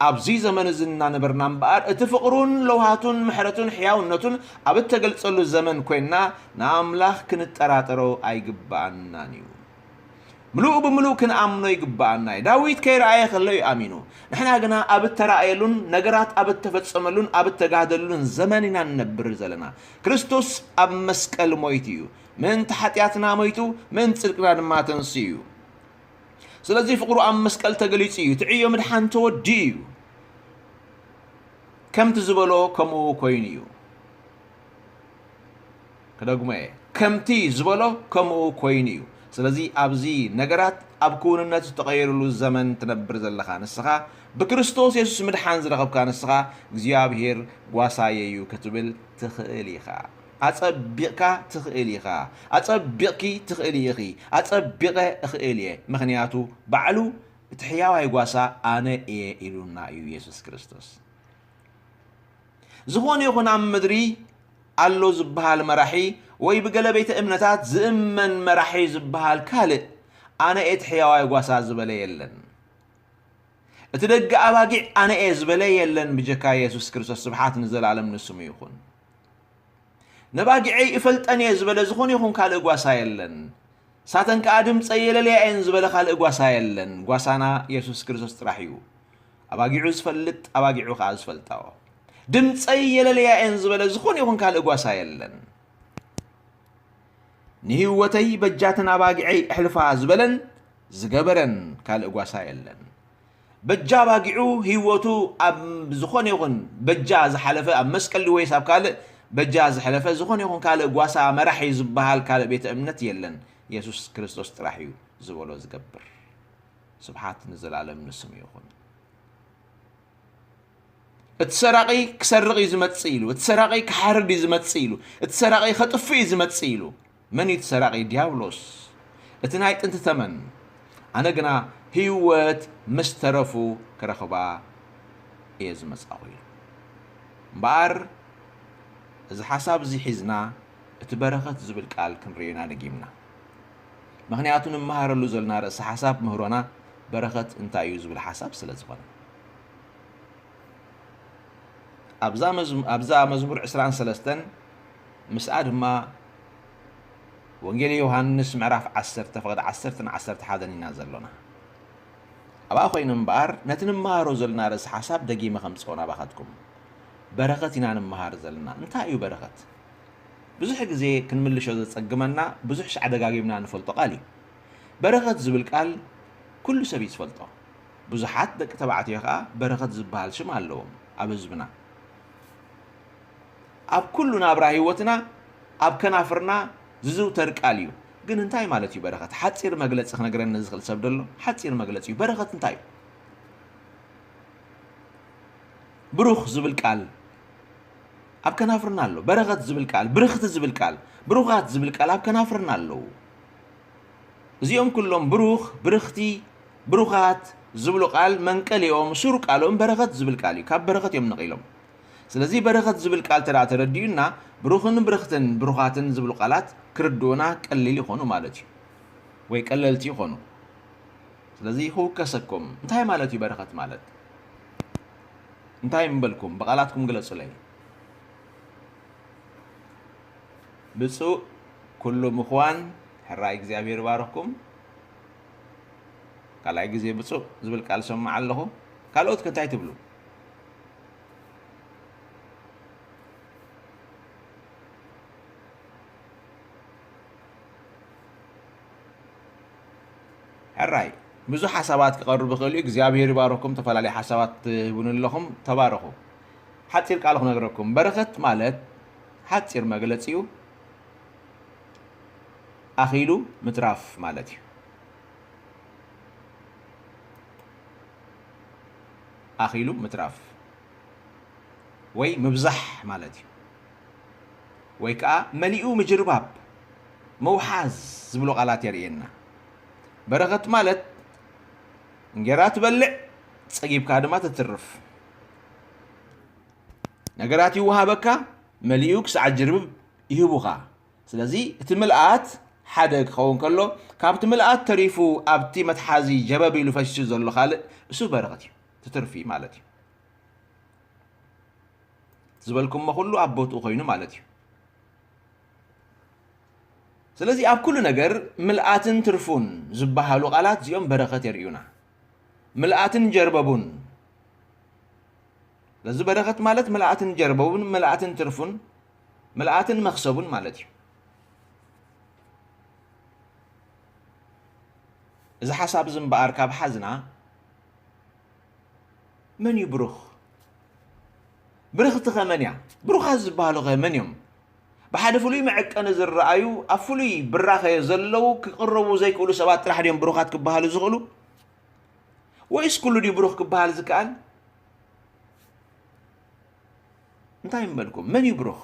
ኣብዚ ዘመን እዚ እናነበርና እምበኣር እቲ ፍቕሩን ለውሃቱን ምሕረቱን ሕያውነቱን ኣብ እተገልጸሉ ዘመን ኰይንና ንኣምላኽ ክንጠራጠሮ ኣይግብኣናን እዩ። ምሉእ ብምሉእ ክንኣምኖ ይግብኣና እዩ። ዳዊት ከይረኣየ ከሎ እዩ ኣሚኑ። ንሕና ግና ኣብ እተራእየሉን ነገራት ኣብ እተፈጸመሉን ኣብ እተጋህደሉን ዘመን ኢና እንነብር ዘለና። ክርስቶስ ኣብ መስቀል ሞይቱ እዩ። ምእንቲ ሓጢኣትና ሞይቱ፣ ምእንቲ ጽድቅና ድማ ተንሲኡ እዩ። ስለዚ ፍቕሩ ኣብ መስቀል ተገሊጹ እዩ። እቲ ዕዮ ምድሓን ተወዲኡ እዩ። ከምቲ ዝበሎ ከምኡ ኮይኑ እዩ። ክደግሞ እየ ከምቲ ዝበሎ ከምኡ ኮይኑ እዩ ስለዚ ኣብዚ ነገራት ኣብ ክውንነት ዝተቐየሩሉ ዘመን ትነብር ዘለኻ ንስኻ ብክርስቶስ የሱስ ምድሓን ዝረኸብካ ንስኻ እግዚኣብሄር ጓሳየዩ ክትብል ትኽእል ኢኻ ኣጸቢቕካ ትኽእል ኢኻ ኣጸቢቕኪ ትኽእሊ ኢኺ ኣጸቢቐ እኽእል እየ ምኽንያቱ ባዕሉ እቲ ሕያዋይ ጓሳ ኣነ እየ ኢሉና እዩ የሱስ ክርስቶስ ዝኾነ ይኹን ኣብ ምድሪ ኣሎ ዝበሃል መራሒ ወይ ብገለ ቤተ እምነታት ዝእመን መራሒ ዝበሃል ካልእ ኣነ እቲ ሕያዋይ ጓሳ ዝበለ የለን። እቲ ደገ ኣባጊዕ ኣነ እየ ዝበለ የለን ብጀካ የሱስ ክርስቶስ ስብሓት ንዘለኣለም ንስሙ ይኹን። ነባጊዐይ እፈልጠን እየ ዝበለ ዝኾነ ይኹን ካልእ ጓሳ የለን። ሳተን ከዓ ድምፀ የለልያ እየን ዝበለ ካልእ ጓሳ የለን። ጓሳና የሱስ ክርስቶስ ጥራሕ እዩ። ኣባጊዑ ዝፈልጥ ኣባጊዑ ከኣ ዝፈልጣኦ ድምፀይ የለለያ እየን ዝበለ ዝኾነ ይኹን ካልእ ጓሳ የለን። ንህይወተይ በጃትን ኣባጊዐይ እሕልፋ ዝበለን ዝገበረን ካልእ ጓሳ የለን። በጃ ኣባጊዑ ህይወቱ ኣብ ዝኾነ ይኹን በጃ ዝሓለፈ ኣብ መስቀሊ ወይስ ኣብ ካልእ በጃ ዝሕለፈ ዝኾነ ይኹን ካልእ ጓሳ መራሒ ዝበሃል ካልእ ቤተ እምነት የለን። የሱስ ክርስቶስ ጥራሕ እዩ ዝበሎ ዝገብር። ስብሓት ንዘላለም ንስሙ ይኹን። እቲ ሰራቒ ክሰርቕ እዩ ዝመጽእ ኢሉ፣ እቲ ሰራቒ ክሓርድ እዩ ዝመጽእ ኢሉ፣ እቲ ሰራቒ ከጥፍእ እዩ ዝመጽእ ኢሉ። መን እዩ እቲ ሰራቒ? ዲያብሎስ እቲ ናይ ጥንቲ ተመን። ኣነ ግና ህይወት ምስ ተረፉ ክረኽባ እየ ዝመጻኹ ኢሉ። እምበኣር እዚ ሓሳብ እዚ ሒዝና እቲ በረኸት ዝብል ቃል ክንርእዮ ኢና ደጊምና። ምኽንያቱ ንመሃረሉ ዘልና ርእሰ ሓሳብ ምህሮና በረኸት እንታይ እዩ ዝብል ሓሳብ ስለ ዝኾነ። ኣብዛ መዝሙ ኣብዛ መዝሙር ዕስራን ሰለስተን ምስኣ ድማ ወንጌል ዮሃንስ ምዕራፍ ዓሰርተ ፍቕዲ ዓሰርተን ዓሰርተ ሓደን ኢና ዘሎና። ኣብኣ ኮይኑ እምበኣር ነቲ ንመሃሮ ዘልና ርእሰ ሓሳብ ደጊመ ከምጽኦ ናባኻትኩም። በረኸት ኢና ንመሃር ዘለና። እንታይ እዩ በረኸት? ብዙሕ ግዜ ክንምልሾ ዘጸግመና ብዙሕ ሽዓ ደጋጊምና ንፈልጦ ቃል እዩ። በረኸት ዝብል ቃል ኩሉ ሰብ እዩ ዝፈልጦ። ብዙሓት ደቂ ተባዕትዮ ከኣ በረኸት ዝበሃል ሽም ኣለዎም ኣብ ህዝብና። ኣብ ኩሉ ናብራ ህይወትና ኣብ ከናፍርና ዝዝውተር ቃል እዩ። ግን እንታይ ማለት እዩ በረኸት? ሓጺር መግለጺ ክነግረኒ ዝኽእል ሰብ ዶ ኣሎ? ሓጺር መግለጺ እዩ። በረኸት እንታይ እዩ? ብሩኽ ዝብል ቃል ኣብ ከናፍርና ኣሎ በረኸት ዝብል ቃል ብርኽቲ ዝብል ቃል ብሩኻት ዝብል ቃል ኣብ ከናፍርና ኣለዉ እዚኦም ኩሎም ብሩኽ ብርኽቲ ብሩኻት ዝብሉ ቃል መንቀሊኦም ሱር ቃሎም በረኸት ዝብል ቃል እዩ ካብ በረኸት እዮም ነቒሎም ስለዚ በረኸት ዝብል ቃል ተደኣ ተረዲኡና ብሩኽን ብርኽትን ብሩኻትን ዝብሉ ቃላት ክርድኡና ቀሊል ይኾኑ ማለት እዩ ወይ ቀለልቲ ይኾኑ ስለዚ ክውከሰኩም እንታይ ማለት እዩ በረኸት ማለት እንታይ ምበልኩም ብቓላትኩም ግለጹለይ። ብጹእ ኩሉ ምኽዋን ሕራይ እግዚኣብሔር ይባርኽኩም። ካልኣይ ግዜ ብጹእ ዝብል ቃል ሰማዕ ኣለኹ። ካልኦት ከ እንታይ ትብሉ? ሕራይ ብዙሕ ሓሳባት ክቀርብ ይኽእል እዩ እግዚኣብሔር ይባርኩም ተፈላለዩ ሓሳባት ትህቡኒ ኣለኹም ተባረኹ ሓጺር ቃል ክነግረኩም በረኸት ማለት ሓጺር መግለጺኡ ኣኺሉ ምትራፍ ማለት እዩ ኣኺሉ ምትራፍ ወይ ምብዛሕ ማለት እዩ ወይ ከዓ መሊኡ ምጅርባብ ምውሓዝ ዝብሉ ቃላት የርእየና በረኸት ማለት እንጌራ ትበልዕ ጸጊብካ ድማ ተትርፍ ነገራት ይወሃበካ መሊኡ ክሳዕ ጅርብብ ይህቡኻ ስለዚ እቲ ምልኣት ሓደ ክኸውን ከሎ ካብቲ ምልኣት ተሪፉ ኣብቲ መትሓዚ ጀበብ ኢሉ ፈሲሱ ዘሎ ካልእ እሱ በረኸት እዩ ትትርፊ ማለት እዩ ዝበልኩሞ ኩሉ ኣብ ቦትኡ ኮይኑ ማለት እዩ ስለዚ ኣብ ኩሉ ነገር ምልኣትን ትርፉን ዝበሃሉ ቃላት እዚኦም በረኸት የርእዩና። ምልኣትን ጀርበቡን ስለዚ በረኸት ማለት ምልኣትን ጀርበቡን፣ ምልኣትን ትርፉን፣ ምልኣትን መኽሰቡን ማለት እዩ። እዚ ሓሳብ እዚ እምበኣር ካብ ሓዝና መን እዩ ብሩኽ? ብርኽቲ ኸ መን እያ? ብሩኻት ዝበሃሉ ኸ መን እዮም? ብሓደ ፍሉይ መዐቀኒ ዝረኣዩ ኣብ ፍሉይ ብራኸ ዘለዉ ክቕረቡ ዘይክእሉ ሰባት ጥራሕ ድዮም ብሩኻት ክበሃሉ ዝኽእሉ ወይስ ኩሉ ድዩ ብሩኽ ክበሃል ዝከኣል እንታይ ይመልኩም መን እዩ ብሩኽ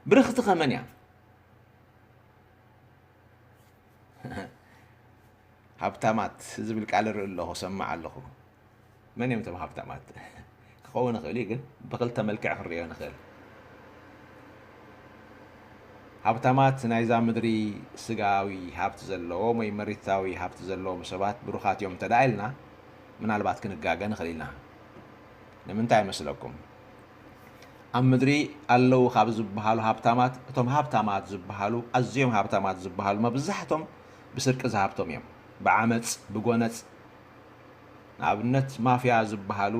ብርኽቲ ከመን እያ ሃብታማት ዝብል ቃል እርኢ ኣለኹ እሰምዕ ኣለኹ መን እዮም እቶም ሃብታማት ክኸውን ይኽእል እዩ ግን ብክልተ መልክዕ ክንሪኦ ንኽእል ሃብታማት ናይዛ ምድሪ ስጋዊ ሃብቲ ዘለዎም ወይ መሬታዊ ሃብቲ ዘለዎም ሰባት ብሩኻት እዮም እንተ ኢልና ምናልባት ክንጋገ ንኽእል ኢና ንምንታይ መስለኩም ኣብ ምድሪ ኣለዉ ካብ ዝበሃሉ ሃብታማት እቶም ሃብታማት ዝበሃሉ ኣዝዮም ሃብታማት ዝበሃሉ መብዛሕቶም ብስርቂ ዝሃብቶም እዮም ብዓመጽ ብጎነጽ ንኣብነት ማፍያ ዝብሃሉ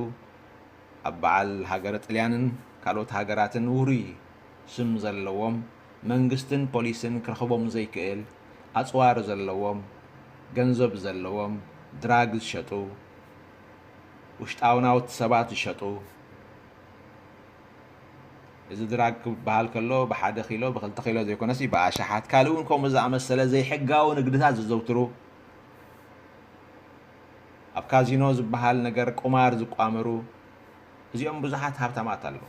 ኣብ በዓል ሃገረ ጥልያንን ካልኦት ሃገራትን ውሩይ ስም ዘለዎም መንግስትን ፖሊስን ክረኽቦም ዘይክእል ኣጽዋር ዘለዎም ገንዘብ ዘለዎም ድራግ ዝሸጡ ውሽጣውናውት ሰባት ዝሸጡ እዚ ድራግ ክበሃል ከሎ ብሓደ ኪሎ ብክልተ ኪሎ ዘይኮነሲ ብኣሽሓት ካልእ እውን ከምኡ ዝኣመሰለ ዘይሕጋዊ ንግድታት ዘዘውትሩ ኣብ ካዚኖ ዝበሃል ነገር ቁማር ዝቋመሩ እዚኦም ብዙሓት ሃብታማት ኣለዉ።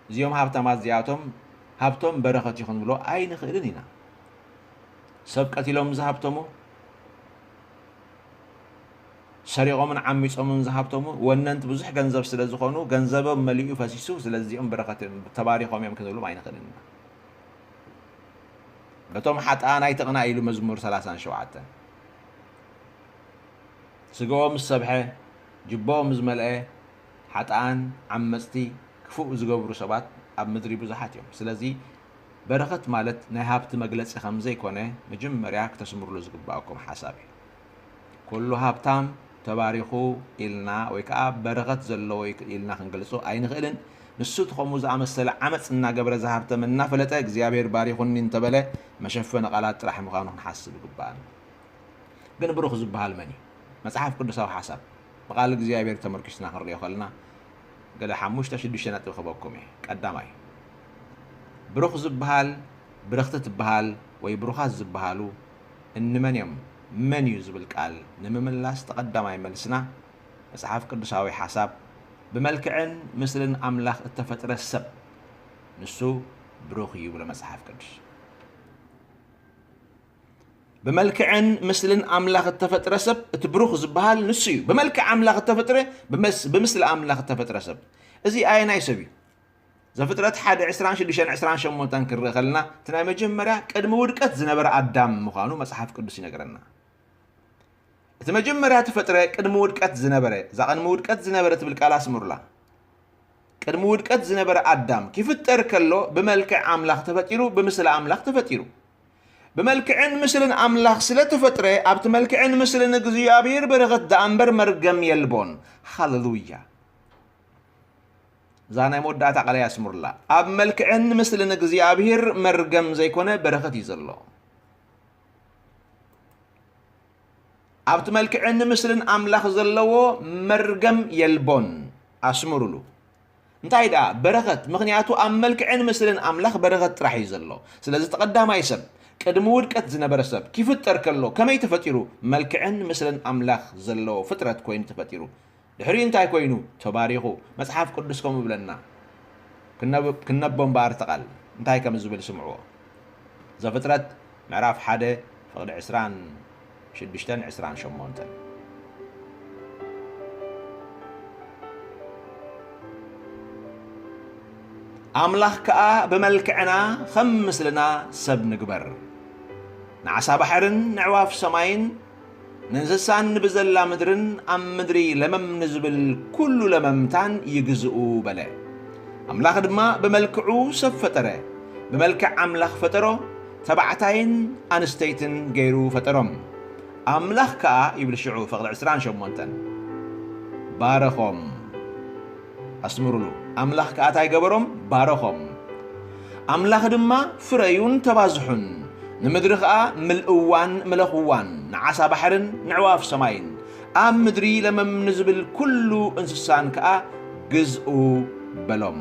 እዚኦም ሃብታማት እዚኣቶም ሃብቶም በረኸት እዩ ክንብሎ ኣይንኽእልን ኢና። ሰብ ቀቲሎም ዝሃብተሙ ሰሪቆምን ዓሚጾምን ዝሃብተሙ ወነንቲ ብዙሕ ገንዘብ ስለ ዝኾኑ ገንዘቦም መሊኡ ፈሲሱ ስለዚ እዚኦም በረኸት እዮም ተባሪኾም እዮም ክንብሎም ኣይንኽእልን ኢና በቶም ሓጥኣን ኣይትቕናእ ኢሉ መዝሙር ሰላሳን ሸውዓተን ስጋኦም ምስ ሰብሐ ጅቦኦም ዝመልአ ሓጥኣን ዓመፅቲ ክፉእ ዝገብሩ ሰባት ኣብ ምድሪ ብዙሓት እዮም ስለዚ በረኸት ማለት ናይ ሃብቲ መግለፂ ከምዘይኮነ መጀመርያ ክተስምርሉ ዝግባኣኩም ሓሳብ እዩ ኩሉ ሃብታም ተባሪኹ ኢልና ወይ ከኣ በረኸት ዘለዎ እዩ ኢልና ክንገልጾ ኣይንኽእልን። ንሱ እቲ ከምኡ ዝኣመሰለ ዓመጽ እናገበረ ዝሃብተመ እናፈለጠ እግዚኣብሄር ባሪኹኒ እንተበለ መሸፈኒ ቃላት ጥራሕ ምዃኑ ክንሓስብ ይግብኣና። ግን ብሩኽ ዝበሃል መን እዩ? መጽሓፍ ቅዱሳዊ ሓሳብ ብቃል እግዚኣብሄር ተመርኲስና ክንርእዮ ከለና ገለ ሓሙሽተ ሽዱሽተ ነጥቢ ክህበኩም እየ። ቀዳማይ ብሩኽ ዝበሃል ብርኽቲ ትበሃል ወይ ብሩኻት ዝበሃሉ እንመን እዮም? መን እዩ ዝብል ቃል ንምምላስ ተቐዳማይ መልስና መጽሓፍ ቅዱሳዊ ሓሳብ ብመልክዕን ምስልን ኣምላኽ እተፈጥረ ሰብ ንሱ ብሩኽ እዩ ይብሎ መጽሓፍ ቅዱስ። ብመልክዕን ምስልን ኣምላኽ እተፈጥረ ሰብ እቲ ብሩኽ ዝበሃል ንሱ እዩ። ብመልክዕ ኣምላኽ እተፈጥረ ብምስሊ ኣምላኽ እተፈጥረ ሰብ እዚ ኣየናይ ሰብ እዩ? ዘፍጥረት ሓደ ዕስራን ሽዱሽተን ዕስራን ሸሞንተን ክንርኢ ከለና እቲ ናይ መጀመርያ ቅድሚ ውድቀት ዝነበረ ኣዳም ምዃኑ መጽሓፍ ቅዱስ ይነግረና። እቲ መጀመርያ ተፈጥረ ቅድሚ ውድቀት ዝነበረ እዛ ቅድሚ ውድቀት ዝነበረ ትብል ቃል ኣስምሩላ። ቅድሚ ውድቀት ዝነበረ ኣዳም ክፍጠር ከሎ ብመልክዕ ኣምላኽ ተፈጢሩ ብምስሊ ኣምላኽ ተፈጢሩ ብመልክዕን ምስልን ኣምላኽ ስለ ተፈጥረ ኣብቲ መልክዕን ምስልን እግዚኣብሔር በረኸት ደኣ እምበር መርገም የልቦን። ሃለሉያ! እዛ ናይ መወዳእታ ቃለይ ኣስምሩላ ኣብ መልክዕን ምስልን እግዚኣብሔር መርገም ዘይኮነ በረኸት እዩ ዘሎ ኣብቲ መልክዕን ምስልን ኣምላኽ ዘለዎ መርገም የልቦን ኣስምሩሉ እንታይ ደኣ በረኸት ምክንያቱ ኣብ መልክዕን ምስልን ኣምላኽ በረኸት ጥራሕ እዩ ዘሎ ስለዚ ተቐዳማይ ሰብ ቅድሚ ውድቀት ዝነበረ ሰብ ክፍጠር ከሎ ከመይ ተፈጢሩ መልክዕን ምስልን ኣምላኽ ዘለዎ ፍጥረት ኮይኑ ተፈጢሩ ድሕሪኡ እንታይ ኮይኑ? ተባሪኹ። መጽሓፍ ቅዱስ ከምኡ ይብለና። ክንነቦ እምበኣር እቲ ቓል እንታይ ከም ዝብል ስምዕዎ። ዘፍጥረት ምዕራፍ ሓደ ፍቕዲ ዕስራን ሽዱሽተን ዕስራን ሸሞንተን። ኣምላኽ ከኣ ብመልክዕና ኸም ምስልና ሰብ ንግበር፣ ንዓሳ ባሕርን ንዕዋፍ ሰማይን ንእንስሳን ብዘላ ምድርን ኣብ ምድሪ ለመም ንዝብል ኵሉ ለመምታን ይግዝኡ በለ። ኣምላኽ ድማ ብመልክዑ ሰብ ፈጠረ፣ ብመልክዕ ኣምላኽ ፈጠሮ፣ ተባዕታይን ኣንስተይትን ገይሩ ፈጠሮም። ኣምላኽ ከኣ ይብል ሽዑ ፍቕዲ ዕስራን ሸሞንተን፣ ባረኾም። ኣስምሩሉ፣ ኣምላኽ ከኣ ታይ ገበሮም? ባረኾም። ኣምላኽ ድማ ፍረዩን ተባዝሑን፣ ንምድሪ ኸኣ ምልእዋን ምለኽዋን፣ ንዓሳ ባሕርን ነዕዋፍ ሰማይን፣ ኣብ ምድሪ ለመም ንዝብል ኵሉ እንስሳን ከኣ ግዝኡ በሎም።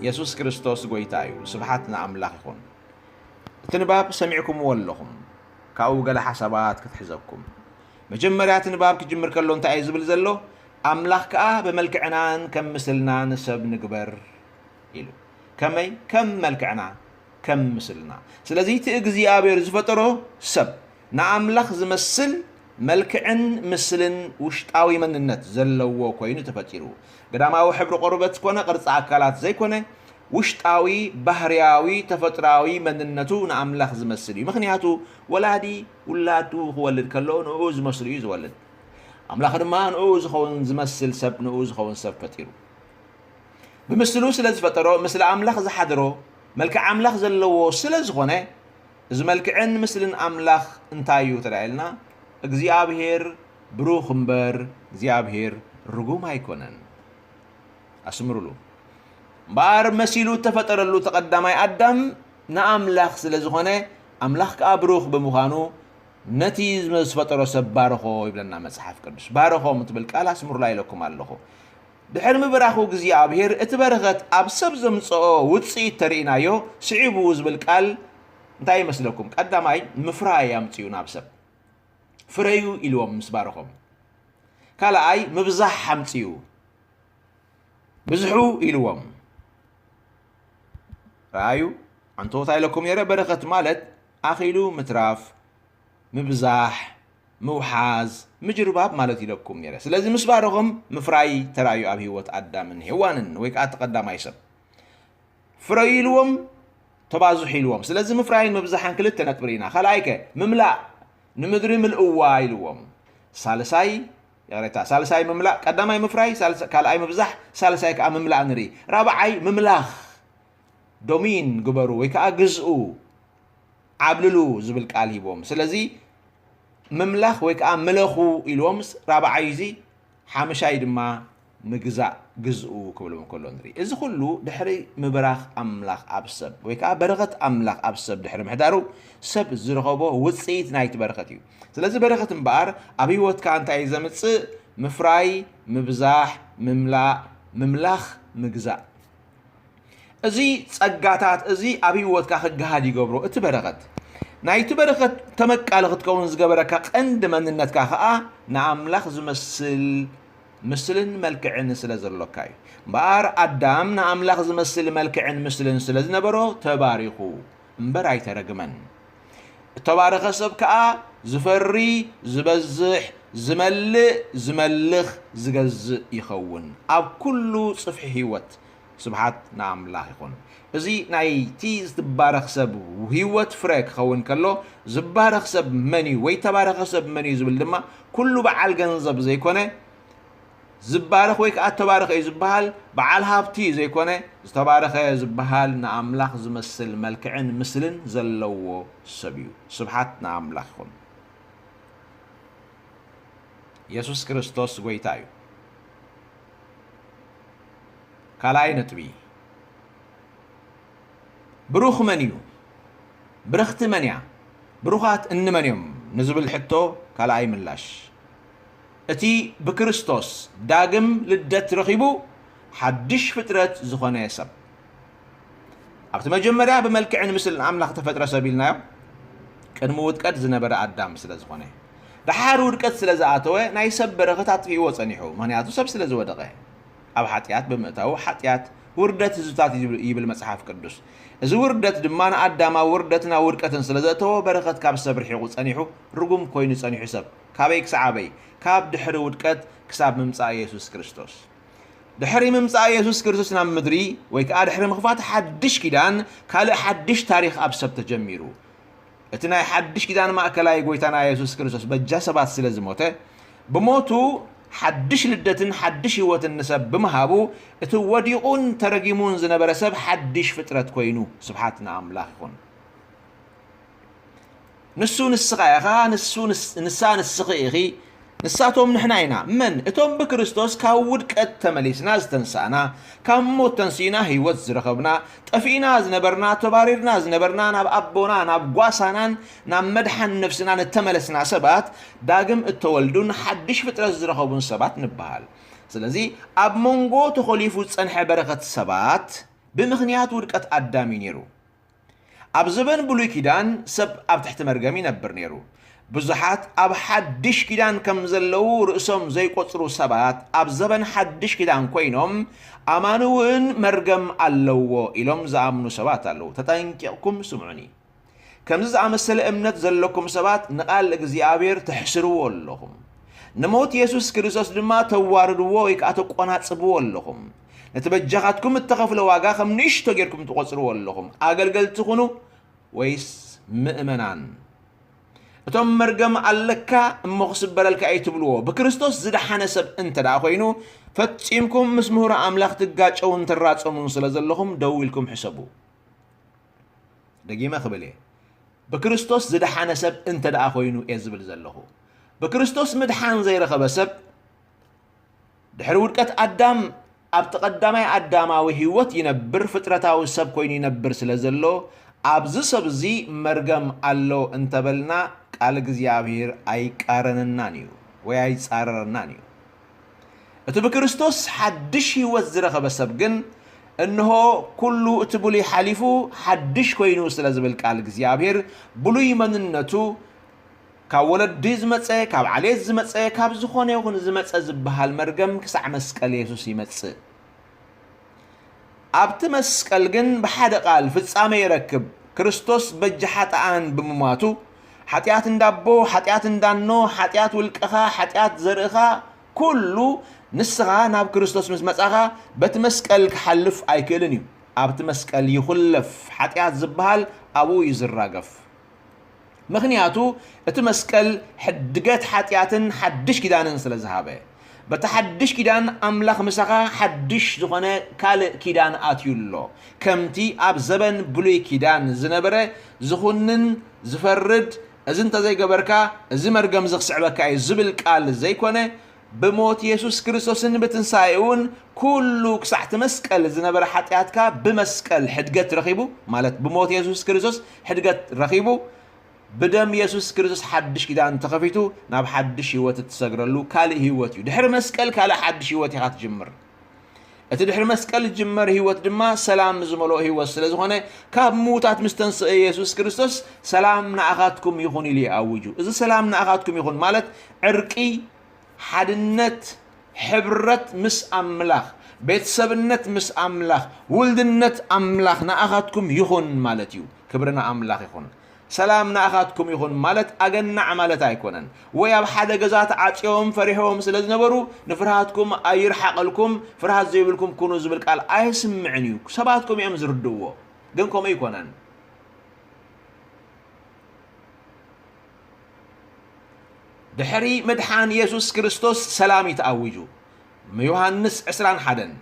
የሱስ ክርስቶስ ጐይታ እዩ። ስብሓት ንኣምላኽ ይኹን። እቲ ንባብ ሰሚዕኩምዎ ኣለኹም። ካብኡ ገለ ሓሳባት ክትሕዘኩም። መጀመርያ እቲ ንባብ ክጅምር ከሎ እንታይ እዩ ዝብል ዘሎ? ኣምላኽ ከኣ ብመልክዕናን ከም ምስልናን ሰብ ንግበር ኢሉ ከመይ ከም መልክዕና ከም ምስልና ስለዚ እቲ እግዚኣብሔር ዝፈጠሮ ሰብ ንኣምላኽ ዝመስል መልክዕን ምስልን ውሽጣዊ መንነት ዘለዎ ኮይኑ ተፈጢሩ ግዳማዊ ሕብሪ ቆርበት ኮነ ቅርፂ ኣካላት ዘይኮነ ውሽጣዊ ባህርያዊ ተፈጥራዊ መንነቱ ንኣምላኽ ዝመስል እዩ ምክንያቱ ወላዲ ውላዱ ክወልድ ከሎ ንኡ ዝመስሉ እዩ ዝወልድ ኣምላኽ ድማ ንኡ ዝኸውን ዝመስል ሰብ ንኡ ዝኸውን ሰብ ፈጢሩ ብምስሉ ስለ ዝፈጠሮ ምስሊ ኣምላኽ ዝሓድሮ መልክዕ ኣምላኽ ዘለዎ ስለ ዝኾነ እዚ መልክዕን ምስልን ኣምላኽ እንታይ እዩ ተዳኢልና እግዚኣብሔር ብሩኽ እምበር እግዚኣብሔር ርጉም ኣይኮነን ኣስምሩሉ እምበኣር መሲሉ እተፈጠረሉ ተቐዳማይ ኣዳም ንኣምላኽ ስለ ዝኾነ ኣምላኽ ከዓ ብሩኽ ብምዃኑ ነቲ ዝፈጠሮ ሰብ ባርኾ ይብለና መጽሓፍ ቅዱስ ባርኾም ትብል ቃል ኣስምሩላ ኢለኩም ኣለኹ ድሕሪ ምብራኹ እግዚኣብሔር እቲ በረኸት ኣብ ሰብ ዘምጽኦ ውጽኢት ተርኢናዮ ስዒቡ ዝብል ቃል እንታይ ይመስለኩም? ቀዳማይ ምፍራይ ኣምጺኡ ናብ ሰብ ፍረዩ ኢልዎም ምስ ባረኾም። ካልኣይ ምብዛሕ ኣምጺኡ ብዝሑ ኢልዎም። ረኣዩ ኣንተወታ ኢለኩም ነይረ በረኸት ማለት ኣኺሉ ምትራፍ ምብዛሕ፣ ምውሓዝ፣ ምጅርባብ ማለት እዩ ኢለኩም ነይረ። ስለዚ ምስ ባረኹም ምፍራይ ተራእዩ ኣብ ህይወት ኣዳምን ሄዋንን ወይ ከኣ እቲ ቀዳማይ ሰብ። ፍረዩ ኢልዎም ተባዝሑ ኢልዎም። ስለዚ ምፍራይን ምብዛሕን ክልተ ነጥቢ ርኢና። ካልኣይ ከ ምምላእ ንምድሪ ምልእዋ ኢልዎም። ሳልሳይ ይቕሬታ ሳልሳይ ምምላእ ቀዳማይ ምፍራይ ሳልሳ- ካልኣይ ምብዛሕ ሳልሳይ ከኣ ምምላእ ንርኢ። ራብዓይ ምምላኽ ዶሚን ግበሩ ወይ ከኣ ግዝኡ። ዓብልሉ ዝብል ቃል ሂቦም ስለዚ ምምላኽ ወይ ከዓ ምለኹ ኢልዎምስ ራብዓይ እዚ ሓምሻይ ድማ ምግዛእ ግዝኡ ክብሎም ከሎ ንርኢ እዚ ኩሉ ድሕሪ ምብራኽ ኣምላኽ ኣብ ሰብ ወይ ከዓ በረኸት ኣምላኽ ኣብ ሰብ ድሕሪ ምሕዳሩ ሰብ ዝረኸቦ ውፅኢት ናይቲ በረኸት እዩ ስለዚ በረኸት እምበኣር ኣብ ህይወትካ እንታይ እዩ ዘምፅእ ምፍራይ ምብዛሕ ምምላእ ምምላኽ ምግዛእ እዚ ጸጋታት እዚ ኣብ ህይወትካ ክገሃድ ይገብሮ እቲ በረኸት ናይቲ በረኸት ተመቃሊ ክትከውን ዝገበረካ ቀንዲ መንነትካ ከዓ ንኣምላኽ ዝመስል ምስልን መልክዕን ስለ ዘሎካ እዩ እምበኣር ኣዳም ንኣምላኽ ዝመስል መልክዕን ምስልን ስለ ዝነበሮ ተባሪኹ እምበር ኣይተረግመን። እተባረኸ ሰብ ከኣ ዚፈሪ፣ ዚበዝሕ፣ ዚመልእ፣ ዚመልኽ፣ ዚገዝእ ይኸውን ኣብ ኩሉ ጽፍሒ ህይወት። ስብሓት ንኣምላኽ ይኹን። እዚ ናይቲ ዝትባረኽ ሰብ ህይወት ፍረ ኪኸውን ከሎ፣ ዝባረኽ ሰብ መን እዩ ወይ እተባረኸ ሰብ መን እዩ ዚብል ድማ ኩሉ ብዓል ገንዘብ ዘይኮነ፣ ዝባረኽ ወይ ከኣ እተባረኸ እዩ ዝበሃል በዓል ሃብቲ ዘይኮነ፣ ዝተባረኸ ዝበሃል ንኣምላኽ ዝመስል መልክዕን ምስልን ዘለዎ ሰብ እዩ። ስብሓት ንኣምላኽ ይኹን። የሱስ ክርስቶስ ጎይታ እዩ። ካልኣይ ነጥቢ፣ ብሩኽ መን እዩ? ብርኽቲ መን እያ? ብሩኻት እንመን እዮም? ንዝብል ሕቶ ካልኣይ ምላሽ፣ እቲ ብክርስቶስ ዳግም ልደት ረኺቡ ሓድሽ ፍጥረት ዝኾነ ሰብ፣ ኣብቲ መጀመርያ ብመልክዕን ምስልን ኣምላኽ እተፈጥረ ሰብ ኢልናዮ፣ ቅድሚ ውድቀት ዝነበረ ኣዳም ስለ ዝኾነ። ደሓር ውድቀት ስለ ዝኣተወ ናይ ሰብ በረኸት ኣጥፊእዎ ጸኒሑ፣ ምኽንያቱ ሰብ ስለ ዝወደቐ። ኣብ ሓጢኣት ብምእታዉ ሓጢኣት ውርደት ህዝብታት እዩ ይብል መጽሓፍ ቅዱስ። እዚ ውርደት ድማ ንኣዳም ኣብ ውርደትን ኣብ ውድቀትን ስለ ዘእተዎ በረኸት ካብ ሰብ ርሒቑ ጸኒሑ ርጉም ኮይኑ ጸኒሑ ሰብ። ካበይ ክሳዕ ኣበይ? ካብ ድሕሪ ውድቀት ክሳብ ምምጻእ የሱስ ክርስቶስ። ድሕሪ ምምጻእ የሱስ ክርስቶስ ናብ ምድሪ ወይ ከኣ ድሕሪ ምኽፋት ሓድሽ ኪዳን ካልእ ሓድሽ ታሪኽ ኣብ ሰብ ተጀሚሩ። እቲ ናይ ሓድሽ ኪዳን ማእከላይ ጎይታና የሱስ ክርስቶስ በጃ ሰባት ስለ ዝሞተ ብሞቱ ሓድሽ ልደትን ሓድሽ ህይወትን ንሰብ ብምሃቡ እቲ ወዲቑን ተረጊሙን ዝነበረ ሰብ ሓድሽ ፍጥረት ኮይኑ። ስብሓት ንኣምላኽ ይኹን። ንሱ ንስኻ ኢኻ፣ ንሱ ንሳ ንስኺ ኢኺ፣ ንሳቶም ንሕና ኢና። መን? እቶም ብክርስቶስ ካብ ውድቀት ተመሊስና ዝተንሳእና፣ ካብ ሞት ተንሲእና ህይወት ዝረኸብና፣ ጠፊእና ዝነበርና፣ ተባሪርና ዝነበርና፣ ናብ ኣቦና፣ ናብ ጓሳናን ናብ መድሓን ነፍስናን እተመለስና ሰባት፣ ዳግም እተወልዱን ሓድሽ ፍጥረት ዝረኸቡን ሰባት ንበሃል። ስለዚ ኣብ መንጎ ተኾሊፉ ዝጸንሐ በረኸት ሰባት ብምኽንያት ውድቀት ኣዳም እዩ ነይሩ። ኣብ ዘበን ብሉይ ኪዳን ሰብ ኣብ ትሕቲ መርገም ይነብር ነይሩ። ብዙሓት ኣብ ሓድሽ ኪዳን ከም ዘለዉ ርእሶም ዘይቆጽሩ ሰባት ኣብ ዘበን ሓድሽ ኪዳን ኮይኖም ኣማኒ እውን መርገም ኣለዎ ኢሎም ዝኣምኑ ሰባት ኣለዉ። ተጠንቂቕኩም ስምዑኒ። ከምዚ ዝኣመሰለ እምነት ዘለኩም ሰባት ንቓል እግዚኣብሔር ተሕስርዎ ኣለኹም። ንሞት የሱስ ክርስቶስ ድማ ተዋርድዎ ወይ ከኣ ተቆናጽብዎ ኣለኹም። ነቲ በጃኻትኩም እተኸፍለ ዋጋ ኸም ንእሽቶ ጌርኩም ትቖጽርዎ ኣለኹም። ኣገልገልቲ ኹኑ ወይስ ምእመናን? እቶም መርገም ኣለካ እሞ ክስበረልካ እዩ ትብልዎ ብክርስቶስ ዝደሓነ ሰብ እንተ ደኣ ኮይኑ ፈጺምኩም ምስ ምሁር ኣምላኽ ትጋጨውን ትራጸሙን ስለ ዘለኹም ደው ኢልኩም ሕሰቡ ደጊመ ክብል እየ ብክርስቶስ ዝደሓነ ሰብ እንተ ደኣ ኮይኑ እየ ዝብል ዘለኹ ብክርስቶስ ምድሓን ዘይረኸበ ሰብ ድሕሪ ውድቀት ኣዳም ኣብቲ ቀዳማይ ኣዳማዊ ህይወት ይነብር ፍጥረታዊ ሰብ ኮይኑ ይነብር ስለ ዘሎ ኣብዚ ሰብ እዚ መርገም ኣሎ እንተበልና ቃል እግዚኣብሔር ኣይቃረነናን እዩ ወይ ኣይጻረረናን እዩ። እቲ ብክርስቶስ ሓድሽ ህይወት ዝረኸበ ሰብ ግን እንሆ ኩሉ እቲ ብሉይ ሓሊፉ ሓድሽ ኮይኑ ስለ ዝብል ቃል እግዚኣብሔር ብሉይ መንነቱ ካብ ወለዲ ዝመጸ፣ ካብ ዓሌት ዝመጸ፣ ካብ ዝኾነ ይኹን ዝመጸ ዝበሃል መርገም ክሳዕ መስቀል የሱስ ይመጽእ። ኣብቲ መስቀል ግን ብሓደ ቃል ፍጻሜ ይረክብ። ክርስቶስ በጃ ሓጥኣን ብምሟቱ፣ ሓጢኣት እንዳ ኣቦ፣ ሓጢኣት እንዳ እኖ፣ ሓጢኣት ውልቅኻ፣ ሓጢኣት ዘርእኻ፣ ኩሉ ንስኻ ናብ ክርስቶስ ምስ መጻኻ በቲ መስቀል ክሓልፍ ኣይክእልን እዩ። ኣብቲ መስቀል ይኹለፍ፣ ሓጢኣት ዝበሃል ኣብኡ እዩ ዝራገፍ። ምኽንያቱ እቲ መስቀል ሕድገት ሓጢኣትን ሓድሽ ኪዳንን ስለ ዝሃበ። በቲ ሓድሽ ኪዳን ኣምላኽ ምሳኻ ሓድሽ ዝኾነ ካልእ ኪዳን ኣትዩ ኣሎ። ከምቲ ኣብ ዘበን ብሉይ ኪዳን ዝነበረ ዝኹንን ዝፈርድ እዚ እንተዘይገበርካ እዚ መርገምዚ ክስዕበካ እዩ ዝብል ቃል ዘይኮነ ብሞት የሱስ ክርስቶስን ብትንሳኤኡን ኩሉ ክሳዕ እቲ መስቀል ዝነበረ ሓጢኣትካ ብመስቀል ሕድገት ረኺቡ ማለት ብሞት የሱስ ክርስቶስ ሕድገት ረኺቡ ብደም የሱስ ክርስቶስ ሓድሽ ኪዳን ተኸፊቱ ናብ ሓድሽ ህይወት እትሰግረሉ ካልእ ህይወት እዩ። ድሕሪ መስቀል ካልእ ሓድሽ ህይወት ኢኻ ትጅምር። እቲ ድሕሪ መስቀል ዝጅመር ህይወት ድማ ሰላም ዝመልኦ ህይወት ስለ ዝኾነ ካብ ምዉታት ምስ ተንስአ የሱስ ክርስቶስ ሰላም ንኣኻትኩም ይኹን ኢሉ ይኣውጁ እዚ ሰላም ንኣኻትኩም ይኹን ማለት ዕርቂ ሓድነት ሕብረት ምስ ኣምላኽ ቤተሰብነት ምስ ኣምላኽ ውልድነት ኣምላኽ ንኣኻትኩም ይኹን ማለት እዩ ክብሪ ንኣምላኽ ይኹን ሰላም ንኣኻትኩም ይኹን ማለት ኣገናዕ ማለት ኣይኮነን ወይ ኣብ ሓደ ገዛ ተዓጽዮም ፈሪሖም ስለ ዝነበሩ ንፍርሃትኩም ኣይርሓቐልኩም ፍርሃት ዘይብልኩም ኩኑ ዝብል ቃል ኣየስምዕን እዩ ሰባት ከምኡ እዮም ዝርድእዎ ግን ከምኡ ኣይኮነን ድሕሪ ምድሓን የሱስ ክርስቶስ ሰላም እዩ ተኣዊጁ ዮሃንስ ዕስራን ሓደን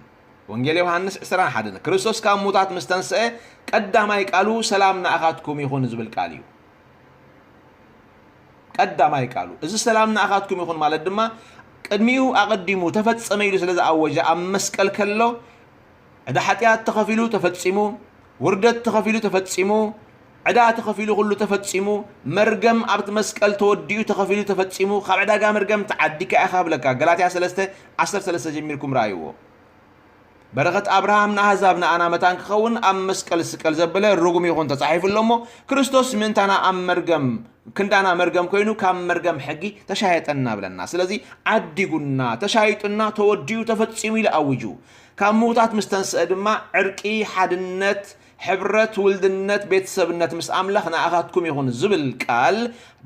ወንጌል ዮሃንስ ዕስራን ሓደን፣ ክርስቶስ ካብ ሙታት ምስ ተንስአ፣ ቀዳማይ ቃሉ ሰላም ንኣኻትኩም ይኹን ዝብል ቃል እዩ። ቀዳማይ ቃሉ እዚ ሰላም ንኣኻትኩም ይኹን ማለት ድማ ቅድሚኡ ኣቐዲሙ ተፈጸመ ኢሉ ስለ ዝኣወጀ ኣብ መስቀል ከሎ ዕዳ ሓጢኣት ተኸፊሉ ተፈጺሙ፣ ውርደት ተኸፊሉ ተፈጺሙ፣ ዕዳ ተኸፊሉ ኩሉ ተፈጺሙ መርገም ኣብቲ መስቀል ተወዲኡ ተኸፊሉ ተፈጺሙ ካብ ዕዳጋ መርገም ተዓዲካ ኢኻ ብለካ ገላትያ ሰለስተ ዓሰርተ ሰለስተ ጀሚርኩም ረኣይዎ በረኸት ኣብርሃም ንኣህዛብ ንኣና መታን ክኸውን ኣብ መስቀል ስቀል ዘበለ ርጉም ይኹን ተጻሒፉ ኣሎ እሞ ክርስቶስ ምእንታና ኣብ መርገም ክንዳና መርገም ኮይኑ ካብ መርገም ሕጊ ተሻየጠና ብለና ስለዚ ዓዲጉና ተሻይጡና ተወዲኡ ተፈጺሙ ኢሉ ኣውጁ ካብ ምውታት ምስ ተንስአ ድማ ዕርቂ ሓድነት ሕብረት ውልድነት ቤተሰብነት ምስ ኣምላኽ ንኣኻትኩም ይኹን ዝብል ቃል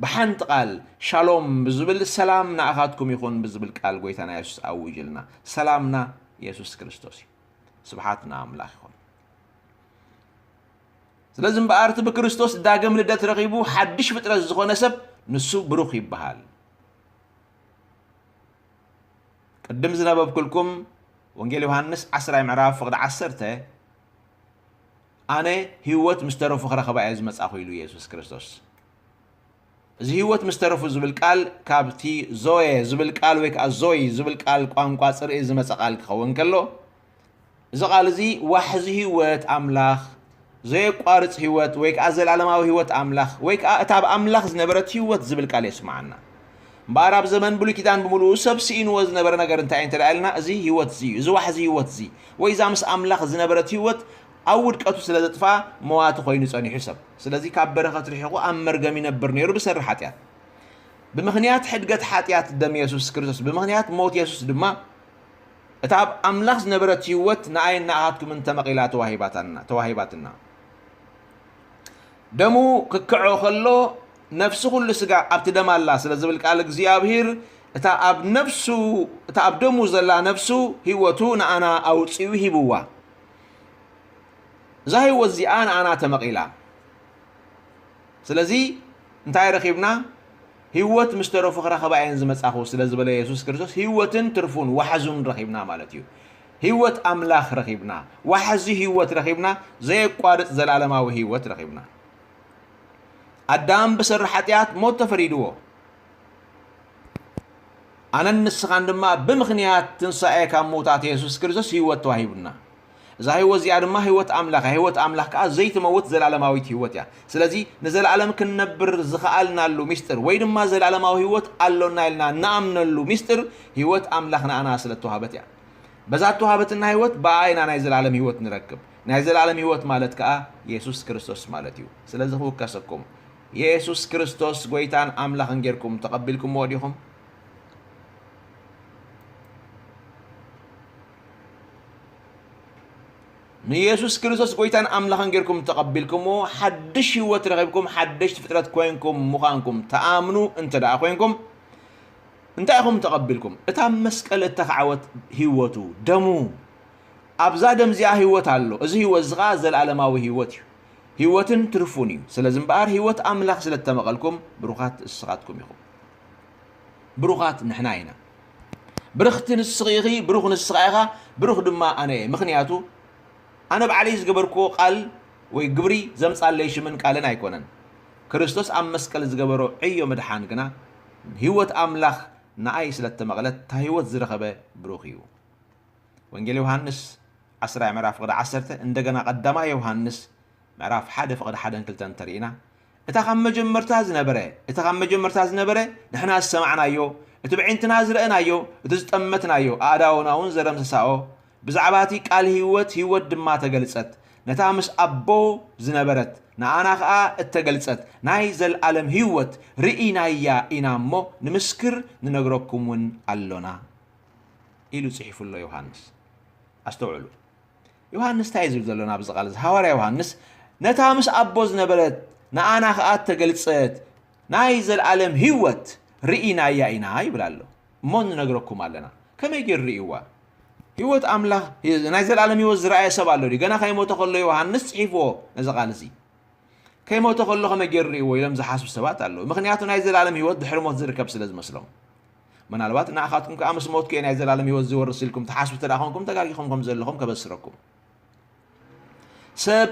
ብሓንቲ ቃል ሻሎም ብዝብል ሰላም ንኣኻትኩም ይኹን ብዝብል ቃል ጎይታና የሱስ ኣውጅልና ሰላምና የሱስ ክርስቶስ እዩ ስብሓት ንኣምላኽ ይኹን ስለዚ እምበኣር እቲ ብክርስቶስ ዳግም ልደት ረኺቡ ሓድሽ ፍጥረት ዝኾነ ሰብ ንሱ ብሩኽ ይበሃል ቅድም ዝነበብኩልኩም ወንጌል ዮሃንስ 10 ምዕራፍ ፍቕዲ 10 ኣነ ህይወት ምስ ተረፉ ክረኽባ እየ ዝመጻኹ ኢሉ የሱስ ክርስቶስ። እዚ ህይወት ምስ ተረፉ ዝብል ቃል ካብቲ ዞየ ዝብል ቃል ወይ ከዓ ዞይ ዝብል ቃል ቋንቋ ጽርኢ ዝመጸ ቃል ክኸውን ከሎ እዚ ቃል እዚ ዋሕዚ ህይወት ኣምላኽ ዘየቋርጽ ህይወት ወይ ከዓ ዘለዓለማዊ ህይወት ኣምላኽ ወይ ከዓ እታ ብ ኣምላኽ ዝነበረት ህይወት ዝብል ቃል የስምዓና። እምበኣር ኣብ ዘመን ብሉይ ኪዳን ብምልኡ ሰብ ስኢንዎ ዝነበረ ነገር እንታይ እዩ እንተ ኢልና እዚ ህይወት እዚ እዩ እዚ ዋሕዚ ህይወት እዚ ወይ እዛ ምስ ኣምላኽ ዝነበረት ህይወት ኣብ ውድቀቱ ስለ ዘጥፍኣ መዋቲ ኮይኑ ጸኒሑ ሰብ ስለዚ ካብ በረኸት ርሒቑ ኣብ መርገም ይነብር ነይሩ ብሰሪ ሓጢኣት ብምኽንያት ሕድገት ሓጢኣት ደም የሱስ ክርስቶስ ብምኽንያት ሞት የሱስ ድማ እታ ኣብ ኣምላኽ ዝነበረት ህይወት ንኣይን ንኣኻትኩምን ተመቒላ ተዋሂባትና ደሙ ክክዖ ከሎ ነፍሲ ዅሉ ስጋ ኣብቲ ደም ኣላ ስለ ዝብል ቃል እግዚኣብሂር እታ ኣብ ነፍሱ እታ ኣብ ደሙ ዘላ ነፍሱ ህይወቱ ንኣና ኣውጺኡ ሂብዋ እዛ ህይወት እዚኣ ንኣና ተመቒላ ስለዚ እንታይ ረኺብና ህይወት ምስ ተረፉ ክረኸባ እየን ዝመጻኹ ስለ ዝበለ የሱስ ክርስቶስ ህይወትን ትርፉን ዋሕዙን ረኺብና ማለት እዩ ህይወት ኣምላኽ ረኺብና ዋሕዚ ህይወት ረኺብና ዘየቋርጽ ዘላለማዊ ህይወት ረኺብና ኣዳም ብሰሪ ሓጢኣት ሞት ተፈሪድዎ፣ ኣነን ንስኻን ድማ ብምኽንያት ትንሳኤ ካብ ምውታት የሱስ ክርስቶስ ህይወት ተዋሂቡና። እዛ ህይወት እዚኣ ድማ ህይወት ኣምላኽ እያ። ህይወት ኣምላኽ ከዓ ዘይትመውት ዘለኣለማዊት ህይወት እያ። ስለዚ ንዘለኣለም ክንነብር ዝኸኣልናሉ ምስጢር ወይ ድማ ዘለኣለማዊ ህይወት ኣሎና ኢልና ንኣምነሉ ምስጢር ህይወት ኣምላኽ ንኣና ስለ እተዋህበት እያ። በዛ እተዋህበትና ህይወት ብኣ ኢና ናይ ዘለኣለም ህይወት ንረክብ። ናይ ዘልኣለም ህይወት ማለት ከኣ የሱስ ክርስቶስ ማለት እዩ። ስለዚ ክውከሰኩም የሱስ ክርስቶስ ጎይታን ኣምላኽን ጌርኩም ተቐቢልኩምዎ ዲኹም? ንየሱስ ክርስቶስ ጎይታን ኣምላኽን ጌርኩም ተቐቢልኩምዎ ሓድሽ ህይወት ረኺብኩም ሓደሽቲ ፍጥረት ኮንኩም ምዃንኩም ተኣምኑ እንተ ደኣ ኮንኩም እንታይ ኢኹም ተቐቢልኩም? እታ መስቀል እተኻዕወት ህይወቱ፣ ደሙ፣ ኣብዛ ደም እዚኣ ህይወት ኣሎ፣ እዚ ህይወት እዚ ኸኣ ዘለኣለማዊ ህይወት እዩ፣ ህይወትን ትርፉን እዩ፣ ስለዚ እምበኣር ህይወት ኣምላኽ ስለ እተመቐልኩም ብሩኻት እስኻትኩም ኢኹም። ብሩኻት ንሕና ኢና። ብርኽቲ ንስኺ ኢኺ፣ ብሩኽ ንስኻ ኢኻ፣ ብሩኽ ድማ ኣነ እየ፣ ምኽንያቱ ኣነ ባዕለይ ዝገበርክዎ ቃል ወይ ግብሪ ዘምጻለይ ሽምን ቃልን ኣይኮነን፣ ክርስቶስ ኣብ መስቀል ዝገበሮ ዕዮ ምድሓን ግና ህይወት ኣምላኽ ንኣይ ስለ እተመቕለት እታ ህይወት ዝረኸበ ብሩኽ እዩ። ወንጌል ዮሃንስ ዓስራይ ምዕራፍ ፍቕዲ ዓሰርተ እንደገና ቀዳማይ ዮሃንስ ምዕራፍ ሓደ ፍቕዲ ሓደን ክልተን እንተርኢና እታ ካብ መጀመርታ ዝነበረ እቲ ካብ መጀመርታ ዝነበረ ንሕና ዝሰማዕናዮ እቲ ብዒንትና ዝረእናዮ እቲ ዝጠመትናዮ ኣእዳውና እውን ዘደምሰሳኦ ብዛዕባ እቲ ቃል ህይወት ህይወት ድማ ተገልጸት ነታ ምስ ኣቦ ዝነበረት ንኣና ከኣ እተገልጸት ናይ ዘልኣለም ህይወት ርኢናያ ኢና እሞ ንምስክር ንነግረኩም እውን ኣሎና ኢሉ ጽሒፉ ኣሎ ዮሃንስ። ኣስተውዕሉ፣ ዮሃንስ እንታይ እዩ ዝብል ዘሎ ናብዚ ቃል እዚ? ሃዋርያ ዮሃንስ ነታ ምስ ኣቦ ዝነበረት ንኣና ከኣ እተገልጸት ናይ ዘልኣለም ህይወት ርኢናያ ኢና ይብል ኣሎ። እሞ ንነግረኩም ኣለና። ከመይ ገይሩ ርእይዋ? ህይወት ኣምላኽ ናይ ዘልኣለም ህይወት ዝረኣየ ሰብ ኣሎ ድዩ? ገና ከይሞተ ከሎ ዮሃንስ ጽሒፍዎ ነዚ ቃል እዚ። ከይሞተ ከሎ ከመይ ገይሩ ርእይዎ ኢሎም ዝሓስቡ ሰባት ኣለዉ። ምኽንያቱ ናይ ዘልኣለም ህይወት ድሕሪ ሞት ዝርከብ ስለ ዝመስሎም። ምናልባት ንዓኻትኩም ከኣ ምስ ሞትኩ እየ ናይ ዘላለም ህይወት ዝወርስ ኢልኩም ትሓስቡ እንተ ኾንኩም ተጋጊኹም ከም ዘለኹም ከበስረኩም ሰብ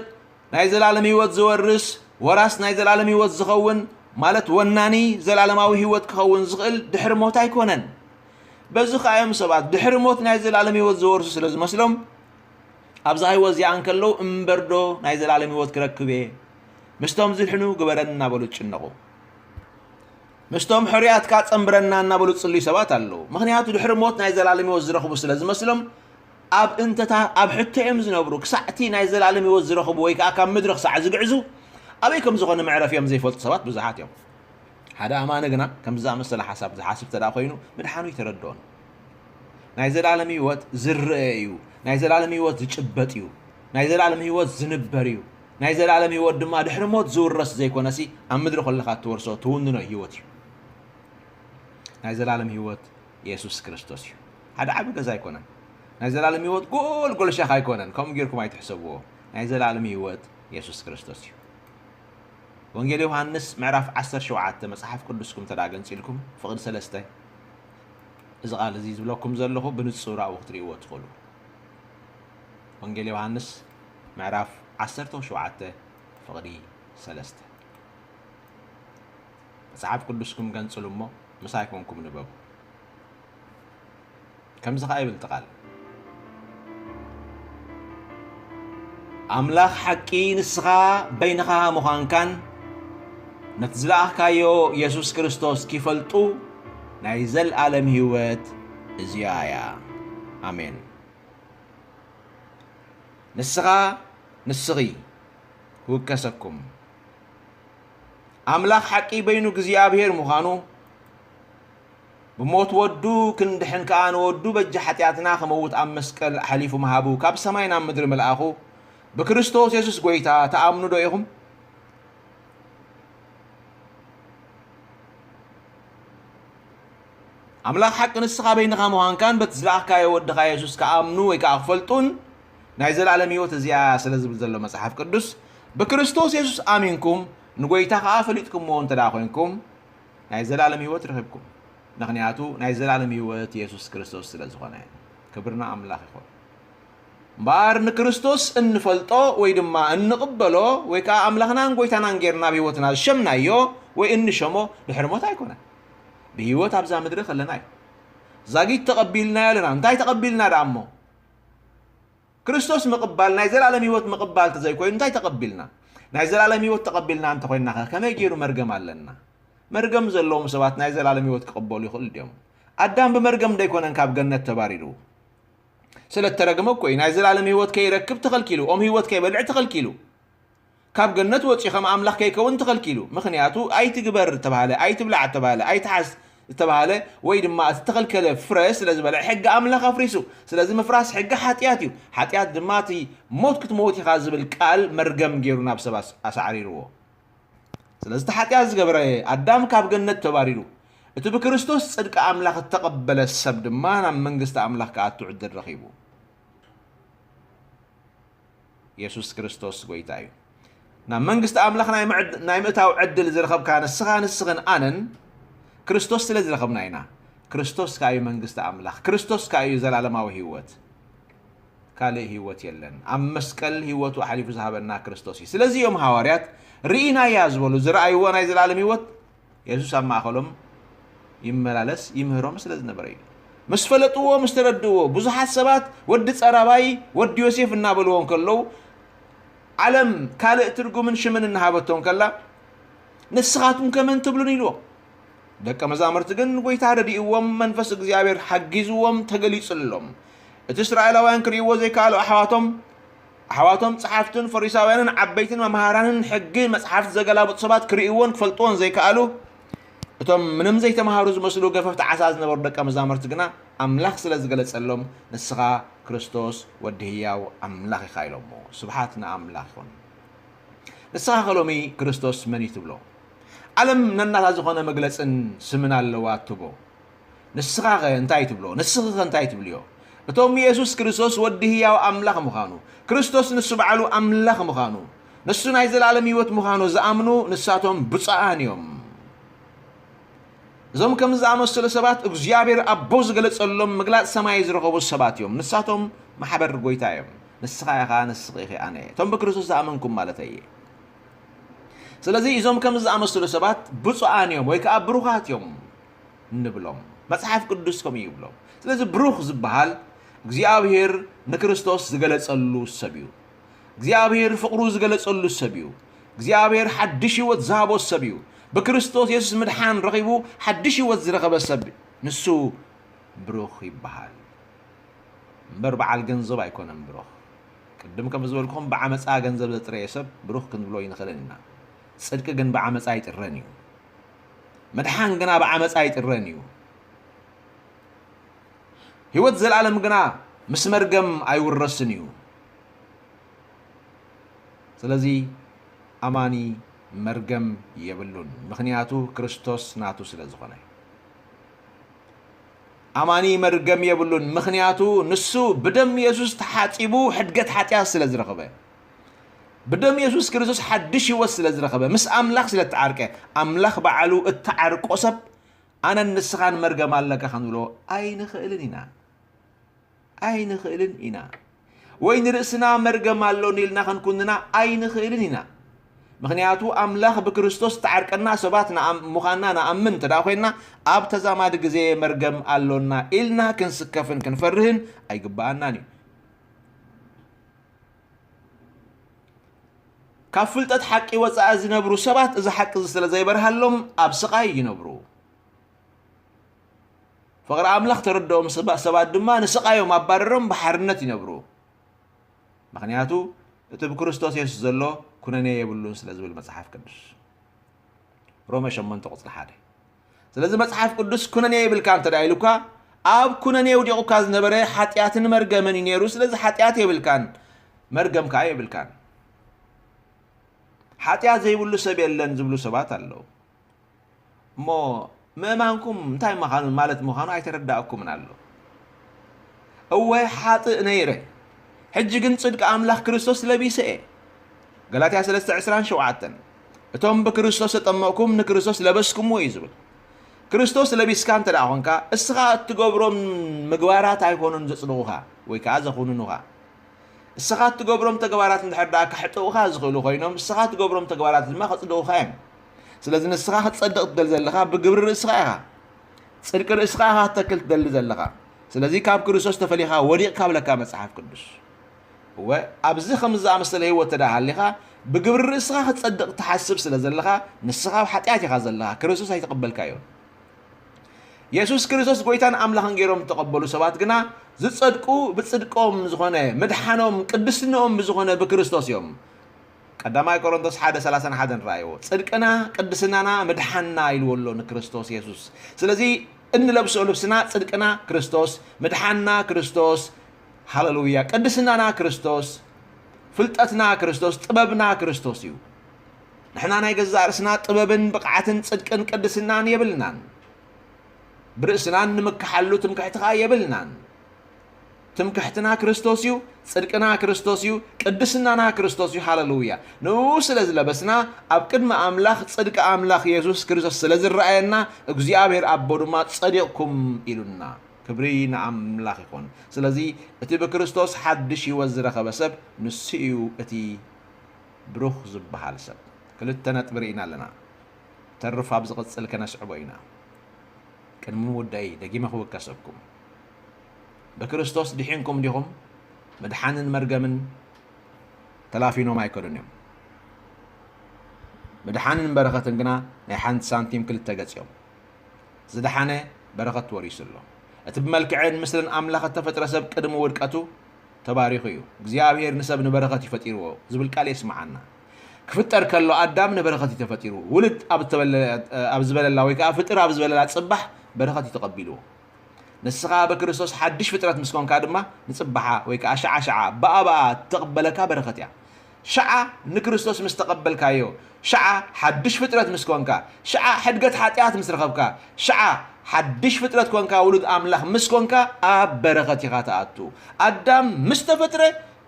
ናይ ዘላለም ህይወት ዝወርስ ወራስ ናይ ዘላለም ህይወት ዝኸውን ማለት ወናኒ ዘላለማዊ ህይወት ክኸውን ዝኽእል ድሕሪ ሞት ኣይኮነን በዚ ከዓ እዮም ሰባት ድሕሪ ሞት ናይ ዘላለም ህይወት ዝወርሱ ስለ ዝመስሎም ኣብዛ ህይወት እዚኣ እንከለዉ እምበርዶ ናይ ዘላለም ህይወት ክረክብ እየ ምስቶም ዝድሕኑ ግበረን እናበሉ ዝጭነቑ ምስቶም ሕሩያትካ ጸንብረና እናበሉ ዝጽልዩ ሰባት ኣለዉ። ምኽንያቱ ድሕሪ ሞት ናይ ዘላለም ህይወት ዝረኽቡ ስለ ዝመስሎም ኣብ እንተታ ኣብ ሕቶ እዮም ዝነብሩ። ክሳዕ'ቲ ናይ ዘላለም ህይወት ዝረኽቡ ወይ ከኣ ካብ ምድሪ ክሳዕ ዝግዕዙ ኣበይ ከም ዝኾነ መዕረፊኦም ዘይፈልጡ ሰባት ብዙሓት እዮም። ሓደ ኣማኒ ግና ከምዚ ዝኣመሰለ ሓሳብ ዝሓስብ እንተድኣ ኮይኑ ምድሓኑ ኣይተረድኦን። ናይ ዘላለም ህይወት ዝርኣ እዩ። ናይ ዘላለም ህይወት ዝጭበጥ እዩ። ናይ ዘላለም ህይወት ዝንበር እዩ። ናይ ዘለኣለም ህይወት ድማ ድሕሪ ሞት ዝውረስ ዘይኮነሲ ኣብ ምድሪ ከለኻ እትወርሶ ትውንኖ ህይወት እዩ። ናይ ዘለኣለም ህይወት የሱስ ክርስቶስ እዩ። ሓደ ዓቢ ገዛ ኣይኮነን። ናይ ዘለኣለም ህይወት ጎልጎል ሻኽ ኣይኮነን። ከምኡ ጌርኩም ኣይትሕሰብዎ። ናይ ዘለኣለም ህይወት የሱስ ክርስቶስ እዩ። ወንጌል ዮሃንስ ምዕራፍ ዓሰርተ ሸውዓተ መጽሓፍ ቅዱስኩም እንተ ደኣ ገንጺልኩም ፍቕዲ ሰለስተ እዚ ቓል እዚ ዝብለኩም ዘለኹ ብንጹር ኣብኡ ክትርእይዎ ትኽእሉ። ወንጌል ዮሃንስ ምዕራፍ ዓሰርተው ሸውዓተ ፍቕዲ ሰለስተ መጽሓፍ ቅዱስኩም ገንጽሉ እሞ ምሳይ ኮንኩም ንበቡ። ከምዚ ከኣ ይብል ትቓል ኣምላኽ ሓቂ ንስኻ በይንኻ ምዃንካን ነቲ ዝለኣኽካዮ የሱስ ክርስቶስ ኪፈልጡ ናይ ዘለኣለም ህይወት እዚኣ እያ ኣሜን ንስኻ ንስኺ ክውከሰኩም ኣምላኽ ሓቂ በይኑ እግዚኣብሔር ምዃኑ ብሞት ወዱ ክንድሕን ከኣ ንወዱ በጃ ሓጢኣትና ክመውት ኣብ መስቀል ኣሕሊፉ ምሃቡ ካብ ሰማይ ናብ ምድሪ ምልኣኹ ብክርስቶስ የሱስ ጎይታ ተኣምኑ ዶ ኢኹም? ኣምላኽ ሓቂ ንስኻ በይንኻ ምዃንካን በቲ ዝለኣኽካዮ ወድኻ የሱስ ክኣምኑ ወይ ከኣ ክፈልጡን ናይ ዘልኣለም ህይወት እዚኣ እያ ስለ ዝብል ዘሎ መጽሓፍ ቅዱስ ብክርስቶስ የሱስ ኣሚንኩም ንጎይታ ከኣ ፈሊጥኩምዎ እንተ ኮይንኩም ናይ ዘልኣለም ህይወት ረኺብኩም ምኽንያቱ ናይ ዘልኣለም ህይወት የሱስ ክርስቶስ ስለ ዝኾነ ክብርና ኣምላኽ ይኹን እምበኣር ንክርስቶስ እንፈልጦ ወይ ድማ እንቕበሎ ወይ ከዓ ኣምላኽናን ጎይታናን ጌርና ኣብ ህይወትና ዝሸምናዮ ወይ እንሸሞ ድሕሪ ሞት ኣይኮነን ብህይወት ኣብዛ ምድሪ ከለና እዩ ዛጊት ተቐቢልናዮ ኣለና እንታይ ተቐቢልና ደኣ እሞ ክርስቶስ ምቕባል ናይ ዘላለም ህይወት ምቕባል ተዘይኮይኑ እንታይ ተቐቢልና ናይ ዘላለም ህይወት ተቐቢልና እንተኮይንና ኸ ከመይ ገይሩ መርገም ኣለና መርገም ዘለዎም ሰባት ናይ ዘላለም ህይወት ክቕበሉ ይኽእሉ ድዮም ኣዳም ብመርገም ደይኮነን ካብ ገነት ተባሪሩ ስለ እተረግመ እኮ እዩ ናይ ዘላለም ህይወት ከይረክብ ተኸልኪሉ ኦም ህይወት ከይበልዕ ተኸልኪሉ ካብ ገነት ወጺኡ ከም ኣምላኽ ከይከውን ተኸልኪሉ። ምኽንያቱ ኣይትግበር እተባህለ፣ ኣይትብላዕ እተባህለ፣ ኣይትሓዝ እተባህለ ወይ ድማ እቲ እተኸልከለ ፍረ ስለ ዝበልዐ ሕጊ ኣምላኽ ኣፍሪሱ። ስለዚ ምፍራስ ሕጊ ሓጢኣት እዩ። ሓጢኣት ድማ እቲ ሞት ክትመውት ኢኻ ዝብል ቃል መርገም ገይሩ ናብ ሰብ ኣሳዕሪርዎ። ስለዚ እቲ ሓጢኣት ዝገበረ ኣዳም ካብ ገነት ተባሪሩ። እቲ ብክርስቶስ ጽድቂ ኣምላኽ እተቐበለ ሰብ ድማ ናብ መንግስቲ ኣምላኽ ክኣቱ ዕድል ረኺቡ። የሱስ ክርስቶስ ጐይታ እዩ። ናብ መንግስቲ ኣምላኽ ናይ ምዕድ ናይ ምእታው ዕድል ዝረኸብካ ንስኻ ንስኽን ኣነን ክርስቶስ ስለ ዝረኸብና ኢና። ክርስቶስ ከኣ እዩ መንግስቲ ኣምላኽ። ክርስቶስ ከኣ እዩ ዘላለማዊ ህይወት። ካልእ ህይወት የለን። ኣብ መስቀል ህይወቱ ኣሕሊፉ ዝሃበና ክርስቶስ እዩ። ስለዚ እዮም ሃዋርያት ርኢናያ ዝበሉ፣ ዝረኣይዎ ናይ ዘላለም ህይወት የሱስ ኣብ ማእከሎም ይመላለስ ይምህሮም ስለ ዝነበረ እዩ። ምስ ፈለጥዎ ምስ ተረድእዎ ብዙሓት ሰባት ወዲ ጸራባይ ወዲ ዮሴፍ እናበልዎ እንከለዉ ዓለም ካልእ ትርጉምን ሽምን እናሃበቶ እንከላ ንስኻትኩም ከመን ትብሉን ኢልዎ ደቀ መዛሙርቲ ግን ጎይታ ረድእዎም መንፈስ እግዚኣብሔር ሓጊዝዎም ተገሊጽሎም እቲ እስራኤላውያን ክርእይዎ ዘይከኣሉ ኣሕዋቶም ኣሕዋቶም ጸሓፍትን ፈሪሳውያንን ዓበይትን መምሃራንን ሕጊ መጽሓፍቲ ዘገላብጡ ሰባት ክርእይዎን ክፈልጥዎን ዘይከኣሉ እቶም ምንም ዘይተምሃሩ ዝመስሉ ገፈፍቲ ዓሳ ዝነበሩ ደቀ መዛሙርቲ ግና ኣምላኽ ስለ ዝገለጸሎም ንስኻ ክርስቶስ ወዲ ህያው ኣምላኽ ኢኻ ኢሎሞ ስብሓት ንኣምላኽ ይኹን ንስኻ ከሎሚ ክርስቶስ መን እዩ ትብሎ ዓለም ነናታ ዝኾነ መግለጽን ስምን ኣለዋ ትቦ ንስኻኸ እንታይ ትብሎ? ንስኺኸ እንታይ ትብልዮ? እቶም የሱስ ክርስቶስ ወዲ ህያው ኣምላኽ ምዃኑ፣ ክርስቶስ ንሱ ባዕሉ ኣምላኽ ምዃኑ፣ ንሱ ናይ ዘላለም ህይወት ምዃኑ ዝኣምኑ ንሳቶም ብፁዓን እዮም። እዞም ከምዚ ዝኣመሰሉ ሰባት እግዚኣብሔር ኣቦ ዝገለጸሎም ምግላጽ ሰማይ ዝረኸቡ ሰባት እዮም። ንሳቶም ማሕበር ጎይታ እዮም። ንስኻ ኢኻ፣ ንስኺ ኢኺ፣ ኣነ እቶም ብክርስቶስ ዝኣመንኩም ማለት እየ። ስለዚ እዞም ከምዚ ዝኣመሰሉ ሰባት ብፁዓን እዮም ወይ ከዓ ብሩኻት እዮም። ንብሎም። መጽሓፍ ቅዱስ ከምኡ እዩ ይብሎ። ስለዚ ብሩኽ ዝበሃል እግዚኣብሄር ንክርስቶስ ዝገለጸሉ ሰብ እዩ። እግዚኣብሄር ፍቕሩ ዝገለጸሉ ሰብ እዩ። እግዚኣብሄር ሓድሽ ህይወት ዝሃቦ ሰብ እዩ። ብክርስቶስ የሱስ ምድሓን ረኺቡ ሓድሽ ህይወት ዝረኸበ ሰብ ንሱ ብሩኽ ይበሃል። እምበር በዓል ገንዘብ ኣይኮነን ብሩኽ። ቅድም ከም ዝበልኩም ብዓመጻ ገንዘብ ዘጥረየ ሰብ ብሩኽ ክንብሎ ኣይንኽእልን ኢና። ጽድቂ ግን ብዓመጻ ኣይጥረን እዩ። ምድሓን ግና ብዓመጻ ኣይጥረን እዩ። ህይወት ዘልኣለም ግና ምስ መርገም ኣይውረስን እዩ። ስለዚ ኣማኒ መርገም የብሉን፣ ምኽንያቱ ክርስቶስ ናቱ ስለ ዝኾነ። ኣማኒ መርገም የብሉን፣ ምኽንያቱ ንሱ ብደም የሱስ ተሓጺቡ ሕድገት ሓጢኣት ስለ ዝረኽበ። ብደም የሱስ ክርስቶስ ሓድሽ ህይወት ስለ ዝረኸበ ምስ ኣምላኽ ስለ ተዓርቀ ኣምላኽ በዓሉ እተዓርቆ ሰብ ኣነን ንስኻን መርገም ኣለካ ክንብሎ ኣይንኽእልን ኢና ኣይንኽእልን ኢና ወይ ንርእስና መርገም ኣሎኒ ኢልና ክንኩንና ኣይንኽእልን ኢና ምክንያቱ ኣምላኽ ብክርስቶስ ተዓርቀና ሰባት ምዃንና ንኣምን እንተ ኮይንና ኣብ ተዛማዲ ግዜ መርገም ኣሎና ኢልና ክንስከፍን ክንፈርህን ኣይግባኣናን እዩ ካብ ፍልጠት ሓቂ ወጻኢ ዝነብሩ ሰባት እዚ ሓቂ እዚ ስለ ዘይበርሃሎም ኣብ ስቓይ ይነብሩ። ፍቕሪ ኣምላኽ ተረድኦም ሰባት ድማ ንስቓዮም ኣባረሮም ብሓርነት ይነብሩ። ምክንያቱ እቲ ብክርስቶስ የሱስ ዘሎ ኩነኔ የብሉን ስለ ዝብል መጽሓፍ ቅዱስ ሮሜ 8 ቁጽሪ 1 ስለዚ መጽሓፍ ቅዱስ ኩነኔ ይብልካ እንተ ደኣ ኢሉካ ኣብ ኩነኔ ውዲቑካ ዝነበረ ሓጢኣትን መርገምን እዩ ነይሩ ስለዚ ሓጢኣት የብልካን መርገም ከዓ የብልካን ሓጢኣት ዘይብሉ ሰብ የለን ዝብሉ ሰባት ኣለዉ እሞ ምእማንኩም እንታይ ምዃኑ ማለት ምዃኑ ኣይተረዳእኩምን ኣሎ እወ ሓጥእ ነይረ ሕጂ ግን ጽድቂ ኣምላኽ ክርስቶስ ለቢሰ እየ ገላትያ 3 27 እቶም ብክርስቶስ ተጠመቕኩም ንክርስቶስ ለበስኩምዎ እዩ ዝብል ክርስቶስ ለቢስካ እንተ ደኣ ኾንካ እስኻ እትገብሮም ምግባራት ኣይኮኑን ዘጽድቑኻ ወይ ከዓ ዘኹንኑኻ እስኻ እትገብሮም ተግባራት እንድሕር ደኣ ከሕጥቑኻ ዝኽእሉ ኮይኖም እስኻ እትገብሮም ተግባራት ድማ ከጽድቑኻ እዮም ስለዚ ንስኻ ክትጸድቕ ትደሊ ዘለኻ ብግብሪ ርእስኻ ኢኻ ጽድቂ ርእስኻ ኢኻ ክተክል ትደሊ ዘለኻ ስለዚ ካብ ክርስቶስ ተፈሊኻ ወዲቕካ ብለካ መጽሓፍ ቅዱስ እወ፣ ኣብዚ ኸምዚ ዝኣመሰለ ህይወት እንተ ደኣ ሃሊኻ፣ ብግብሪ ርእስኻ ኽትጸድቕ ትሓስብ ስለ ዘለኻ፣ ንስኻ ኣብ ሓጢኣት ኢኻ ዘለኻ፣ ክርስቶስ ኣይተቐበልካዮን። የሱስ ክርስቶስ ጐይታን ኣምላኽን ገይሮም እተቐበሉ ሰባት ግና፣ ዚጸድቁ ብጽድቆም ዝዀነ፣ ምድሓኖም፣ ቅድስንኦም ብዝዀነ ብክርስቶስ እዮም። ቀዳማይ ቆሮንቶስ ሓደ ሰላሳን ሓደን ረኣይዎ። ጽድቅና፣ ቅድስናና፣ ምድሓንና ኢልዎ ኣሎ ንክርስቶስ የሱስ። ስለዚ እንለብሶ ልብስና ጽድቅና ክርስቶስ፣ ምድሓንና ክርስቶስ፣ ሃለሉያ ቅድስናና ክርስቶስ ፍልጠትና ክርስቶስ ጥበብና ክርስቶስ እዩ ንሕና ናይ ገዛእ ርእስና ጥበብን ብቕዓትን ጽድቅን ቅድስናን የብልናን ብርእስናን ንምክሓሉ ትምክሕቲ ከዓ የብልናን ትምክሕትና ክርስቶስ እዩ ጽድቅና ክርስቶስ እዩ ቅድስናና ክርስቶስ እዩ ሃለሉያ ንኡ ስለ ዝለበስና ኣብ ቅድሚ ኣምላኽ ጽድቂ ኣምላኽ የሱስ ክርስቶስ ስለ ዝረኣየና እግዚኣብሔር ኣቦ ድማ ጸዲቕኩም ኢሉና ክብሪ ንኣምላኽ ይኹን። ስለዚ እቲ ብክርስቶስ ሓድሽ ህይወት ዝረኸበ ሰብ ንሱ እዩ እቲ ብሩኽ ዝበሃል ሰብ። ክልተ ነጥቢ ርኢና ኣለና፣ ተርፍ ኣብ ዝቕጽል ከነስዕቦ ኢና። ቅድሚ ምውዳእይ ደጊመ ክውከሰኩም፣ ብክርስቶስ ድሒንኩም ዲኹም? ምድሓንን መርገምን ተላፊኖም ኣይከዱን እዮም። ምድሓንን በረኸትን ግና ናይ ሓንቲ ሳንቲም ክልተ ገጽ እዮም። ዝደሓነ በረኸት ወሪሱ ኣሎ። እቲ ብመልክዕን ምስልን ኣምላኽ እተፈጥረ ሰብ ቅድሚ ውድቀቱ ተባሪኹ እዩ። እግዚኣብሄር ንሰብ ንበረኸት እዩ ፈጢርዎ ዝብል ቃል የስምዓና። ክፍጠር ከሎ ኣዳም ንበረኸት እዩ ተፈጢሩ። ውልድ ኣብ እተበለ ኣብ ዝበለላ ወይ ከኣ ፍጥር ኣብ ዝበለላ ጽባሕ በረኸት እዩ ተቐቢልዎ። ንስኻ ብክርስቶስ ሓድሽ ፍጥረት ምስ ኰንካ ድማ ንጽባሓ ወይ ከኣ ሽዓ ሽዓ ብኣ ብኣ እተቕበለካ በረኸት እያ። ሽዓ ንክርስቶስ ምስ ተቐበልካዮ፣ ሽዓ ሓድሽ ፍጥረት ምስ ኮንካ፣ ሽዓ ሕድገት ሓጢኣት ምስ ረኸብካ፣ ሽዓ ሓድሽ ፍጥረት ኮንካ ውሉድ ኣምላኽ ምስ ኮንካ ኣብ በረኸት ኢኻ ትኣቱ። ኣዳም ምስ ተፈጥረ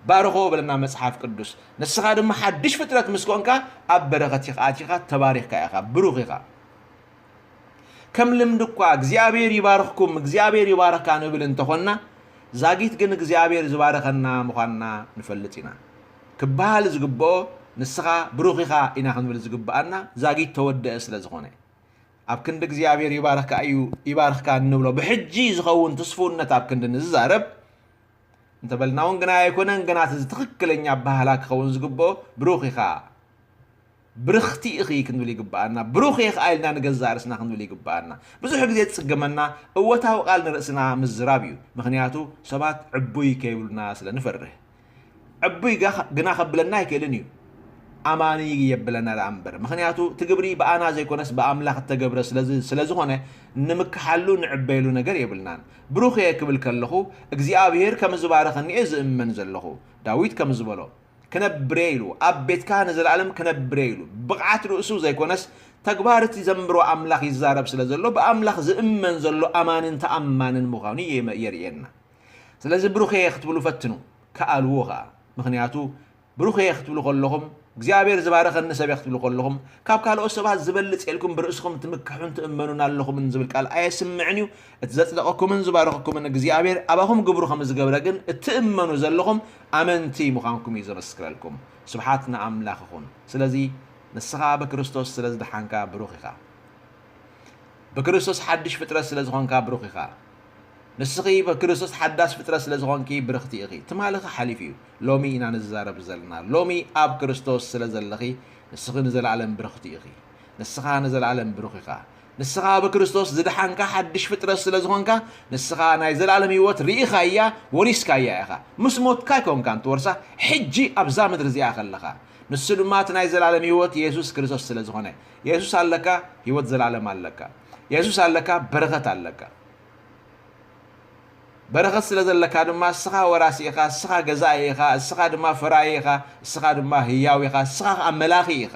ባረኾ በለና መጽሓፍ ቅዱስ። ንስኻ ድማ ሓድሽ ፍጥረት ምስ ኮንካ ኣብ በረኸት ኢኻ ኣቲኻ ተባሪኽካ ኢኻ ብሩኽ ኢኻ። ከም ልምዲ እኳ እግዚኣብሔር ይባርኽኩም እግዚኣብሔር ይባርኽካ ንብል እንተኾንና ዛጊት ግን እግዚኣብሔር ዝባረኸና ምዃንና ንፈልጥ ኢና። ክበሃል ዝግብኦ ንስኻ ብሩኽ ኢኻ ኢና ክንብል ዝግብኣና ዛጊት ተወደአ ስለ ዝኾነ ኣብ ክንዲ እግዚኣብሔር ይባርኽካ እዩ ይባርኽካ እንብሎ ብሕጂ ዝኸውን ትስፉውነት ኣብ ክንዲ ንዝዛረብ እንተበልና እውን ግና ኣይኮነን ግና እቲ ትኽክለኛ ኣበሃህላ ክኸውን ዝግብኦ ብሩኽ ኢኻ ብርኽቲ ኢኺ ክንብል ይግብኣና፣ ብሩኽ እየ ከኣ ኢልና ንገዛእ ርእስና ክንብል ይግብኣና። ብዙሕ ግዜ ዝጽግመና እወታዊ ቃል ንርእስና ምዝራብ እዩ፣ ምኽንያቱ ሰባት ዕቡይ ከይብሉና ስለ ንፈርህ። ዕቡይ ግና ከብለና ኣይክእልን እዩ፣ ኣማኒ የብለና ደኣ እምበር፣ ምኽንያቱ እቲ ግብሪ ብኣና ዘይኮነስ ብኣምላኽ እተገብረ ስለ ዝኾነ ንምከሓሉ ንዕበየሉ ነገር የብልናን። ብሩኽ እየ ክብል ከለኹ እግዚኣብሄር ከም ዝባረኸኒ እየ ዝእመን ዘለኹ። ዳዊት ከም ዝበሎ። ክነብር'የ ኢሉ፣ ኣብ ቤትካ ንዘለኣለም ክነብር'የ ኢሉ፣ ብቕዓት ርእሱ ዘይኮነስ ተግባር'ቲ ዘንብሮ ኣምላኽ ይዛረብ ስለ ዘሎ ብኣምላኽ ዝእመን ዘሎ ኣማንን ተኣማንን ምዃኑ የርእየና። ስለዚ ብሩኽ'የ ክትብሉ ፈትኑ፣ ከኣልዎ ከኣ። ምኽንያቱ ብሩኽ'የ ክትብሉ ከለኹም፣ እግዚኣብሔር ዝባረኸኒ ሰብ'የ ክትብሉ ከለኹም፣ ካብ ካልኦት ሰባት ዝበልጽ'የ ኢልኩም ብርእስኹም ትምክሑን ትእመኑን ኣለኹምን ዝብል ቃል ኣየስምዕን'ዩ። እቲ ዘጽደቐኩምን ዝባረኸኩምን እግዚኣብሔር ኣባኹም ግብሩ ከም ዝገብረ ግን እትእመኑ ዘለኹም ኣመንቲ ምዃንኩም እዩ ዘመስክረልኩም። ስብሓት ንኣምላኽ ይኹን። ስለዚ ንስኻ ብክርስቶስ ስለ ዝደሓንካ ብሩኽ ኢኻ። ብክርስቶስ ሓድሽ ፍጥረት ስለ ዝኾንካ ብሩኽ ኢኻ። ንስኺ ብክርስቶስ ሓዳስ ፍጥረት ስለ ዝኾንኪ ብርኽቲ ኢኺ። ትማልኺ ሓሊፉ እዩ። ሎሚ ኢና ንዛረብ ዘለና። ሎሚ ኣብ ክርስቶስ ስለ ዘለኺ ንስኺ ንዘለኣለም ብርኽቲ ኢኺ። ንስኻ ንዘለኣለም ብሩኽ ኢኻ። ንስኻ ብክርስቶስ ዝደሓንካ ሓድሽ ፍጥረት ስለ ዝኾንካ፣ ንስኻ ናይ ዘለኣለም ህይወት ርኢኻያ፣ ወሪስካያ ኢኻ። ምስ ሞትካ ኣይኮንካን ትወርሳ፣ ሕጂ ኣብዛ ምድሪ እዚኣ ከለኻ። ንሱ ድማ እቲ ናይ ዘለኣለም ህይወት የሱስ ክርስቶስ ስለ ዝኾነ። የሱስ ኣለካ፣ ህይወት ዘለኣለም ኣለካ። የሱስ ኣለካ፣ በረኸት ኣለካ። በረኸት ስለ ዘለካ ድማ እስኻ ወራሲ ኢኻ፣ እስኻ ገዛኢ ኢኻ፣ እስኻ ድማ ፈራዪ ኢኻ፣ እስኻ ድማ ህያው ኢኻ፣ እስኻ ከኣ መላኺ ኢኻ።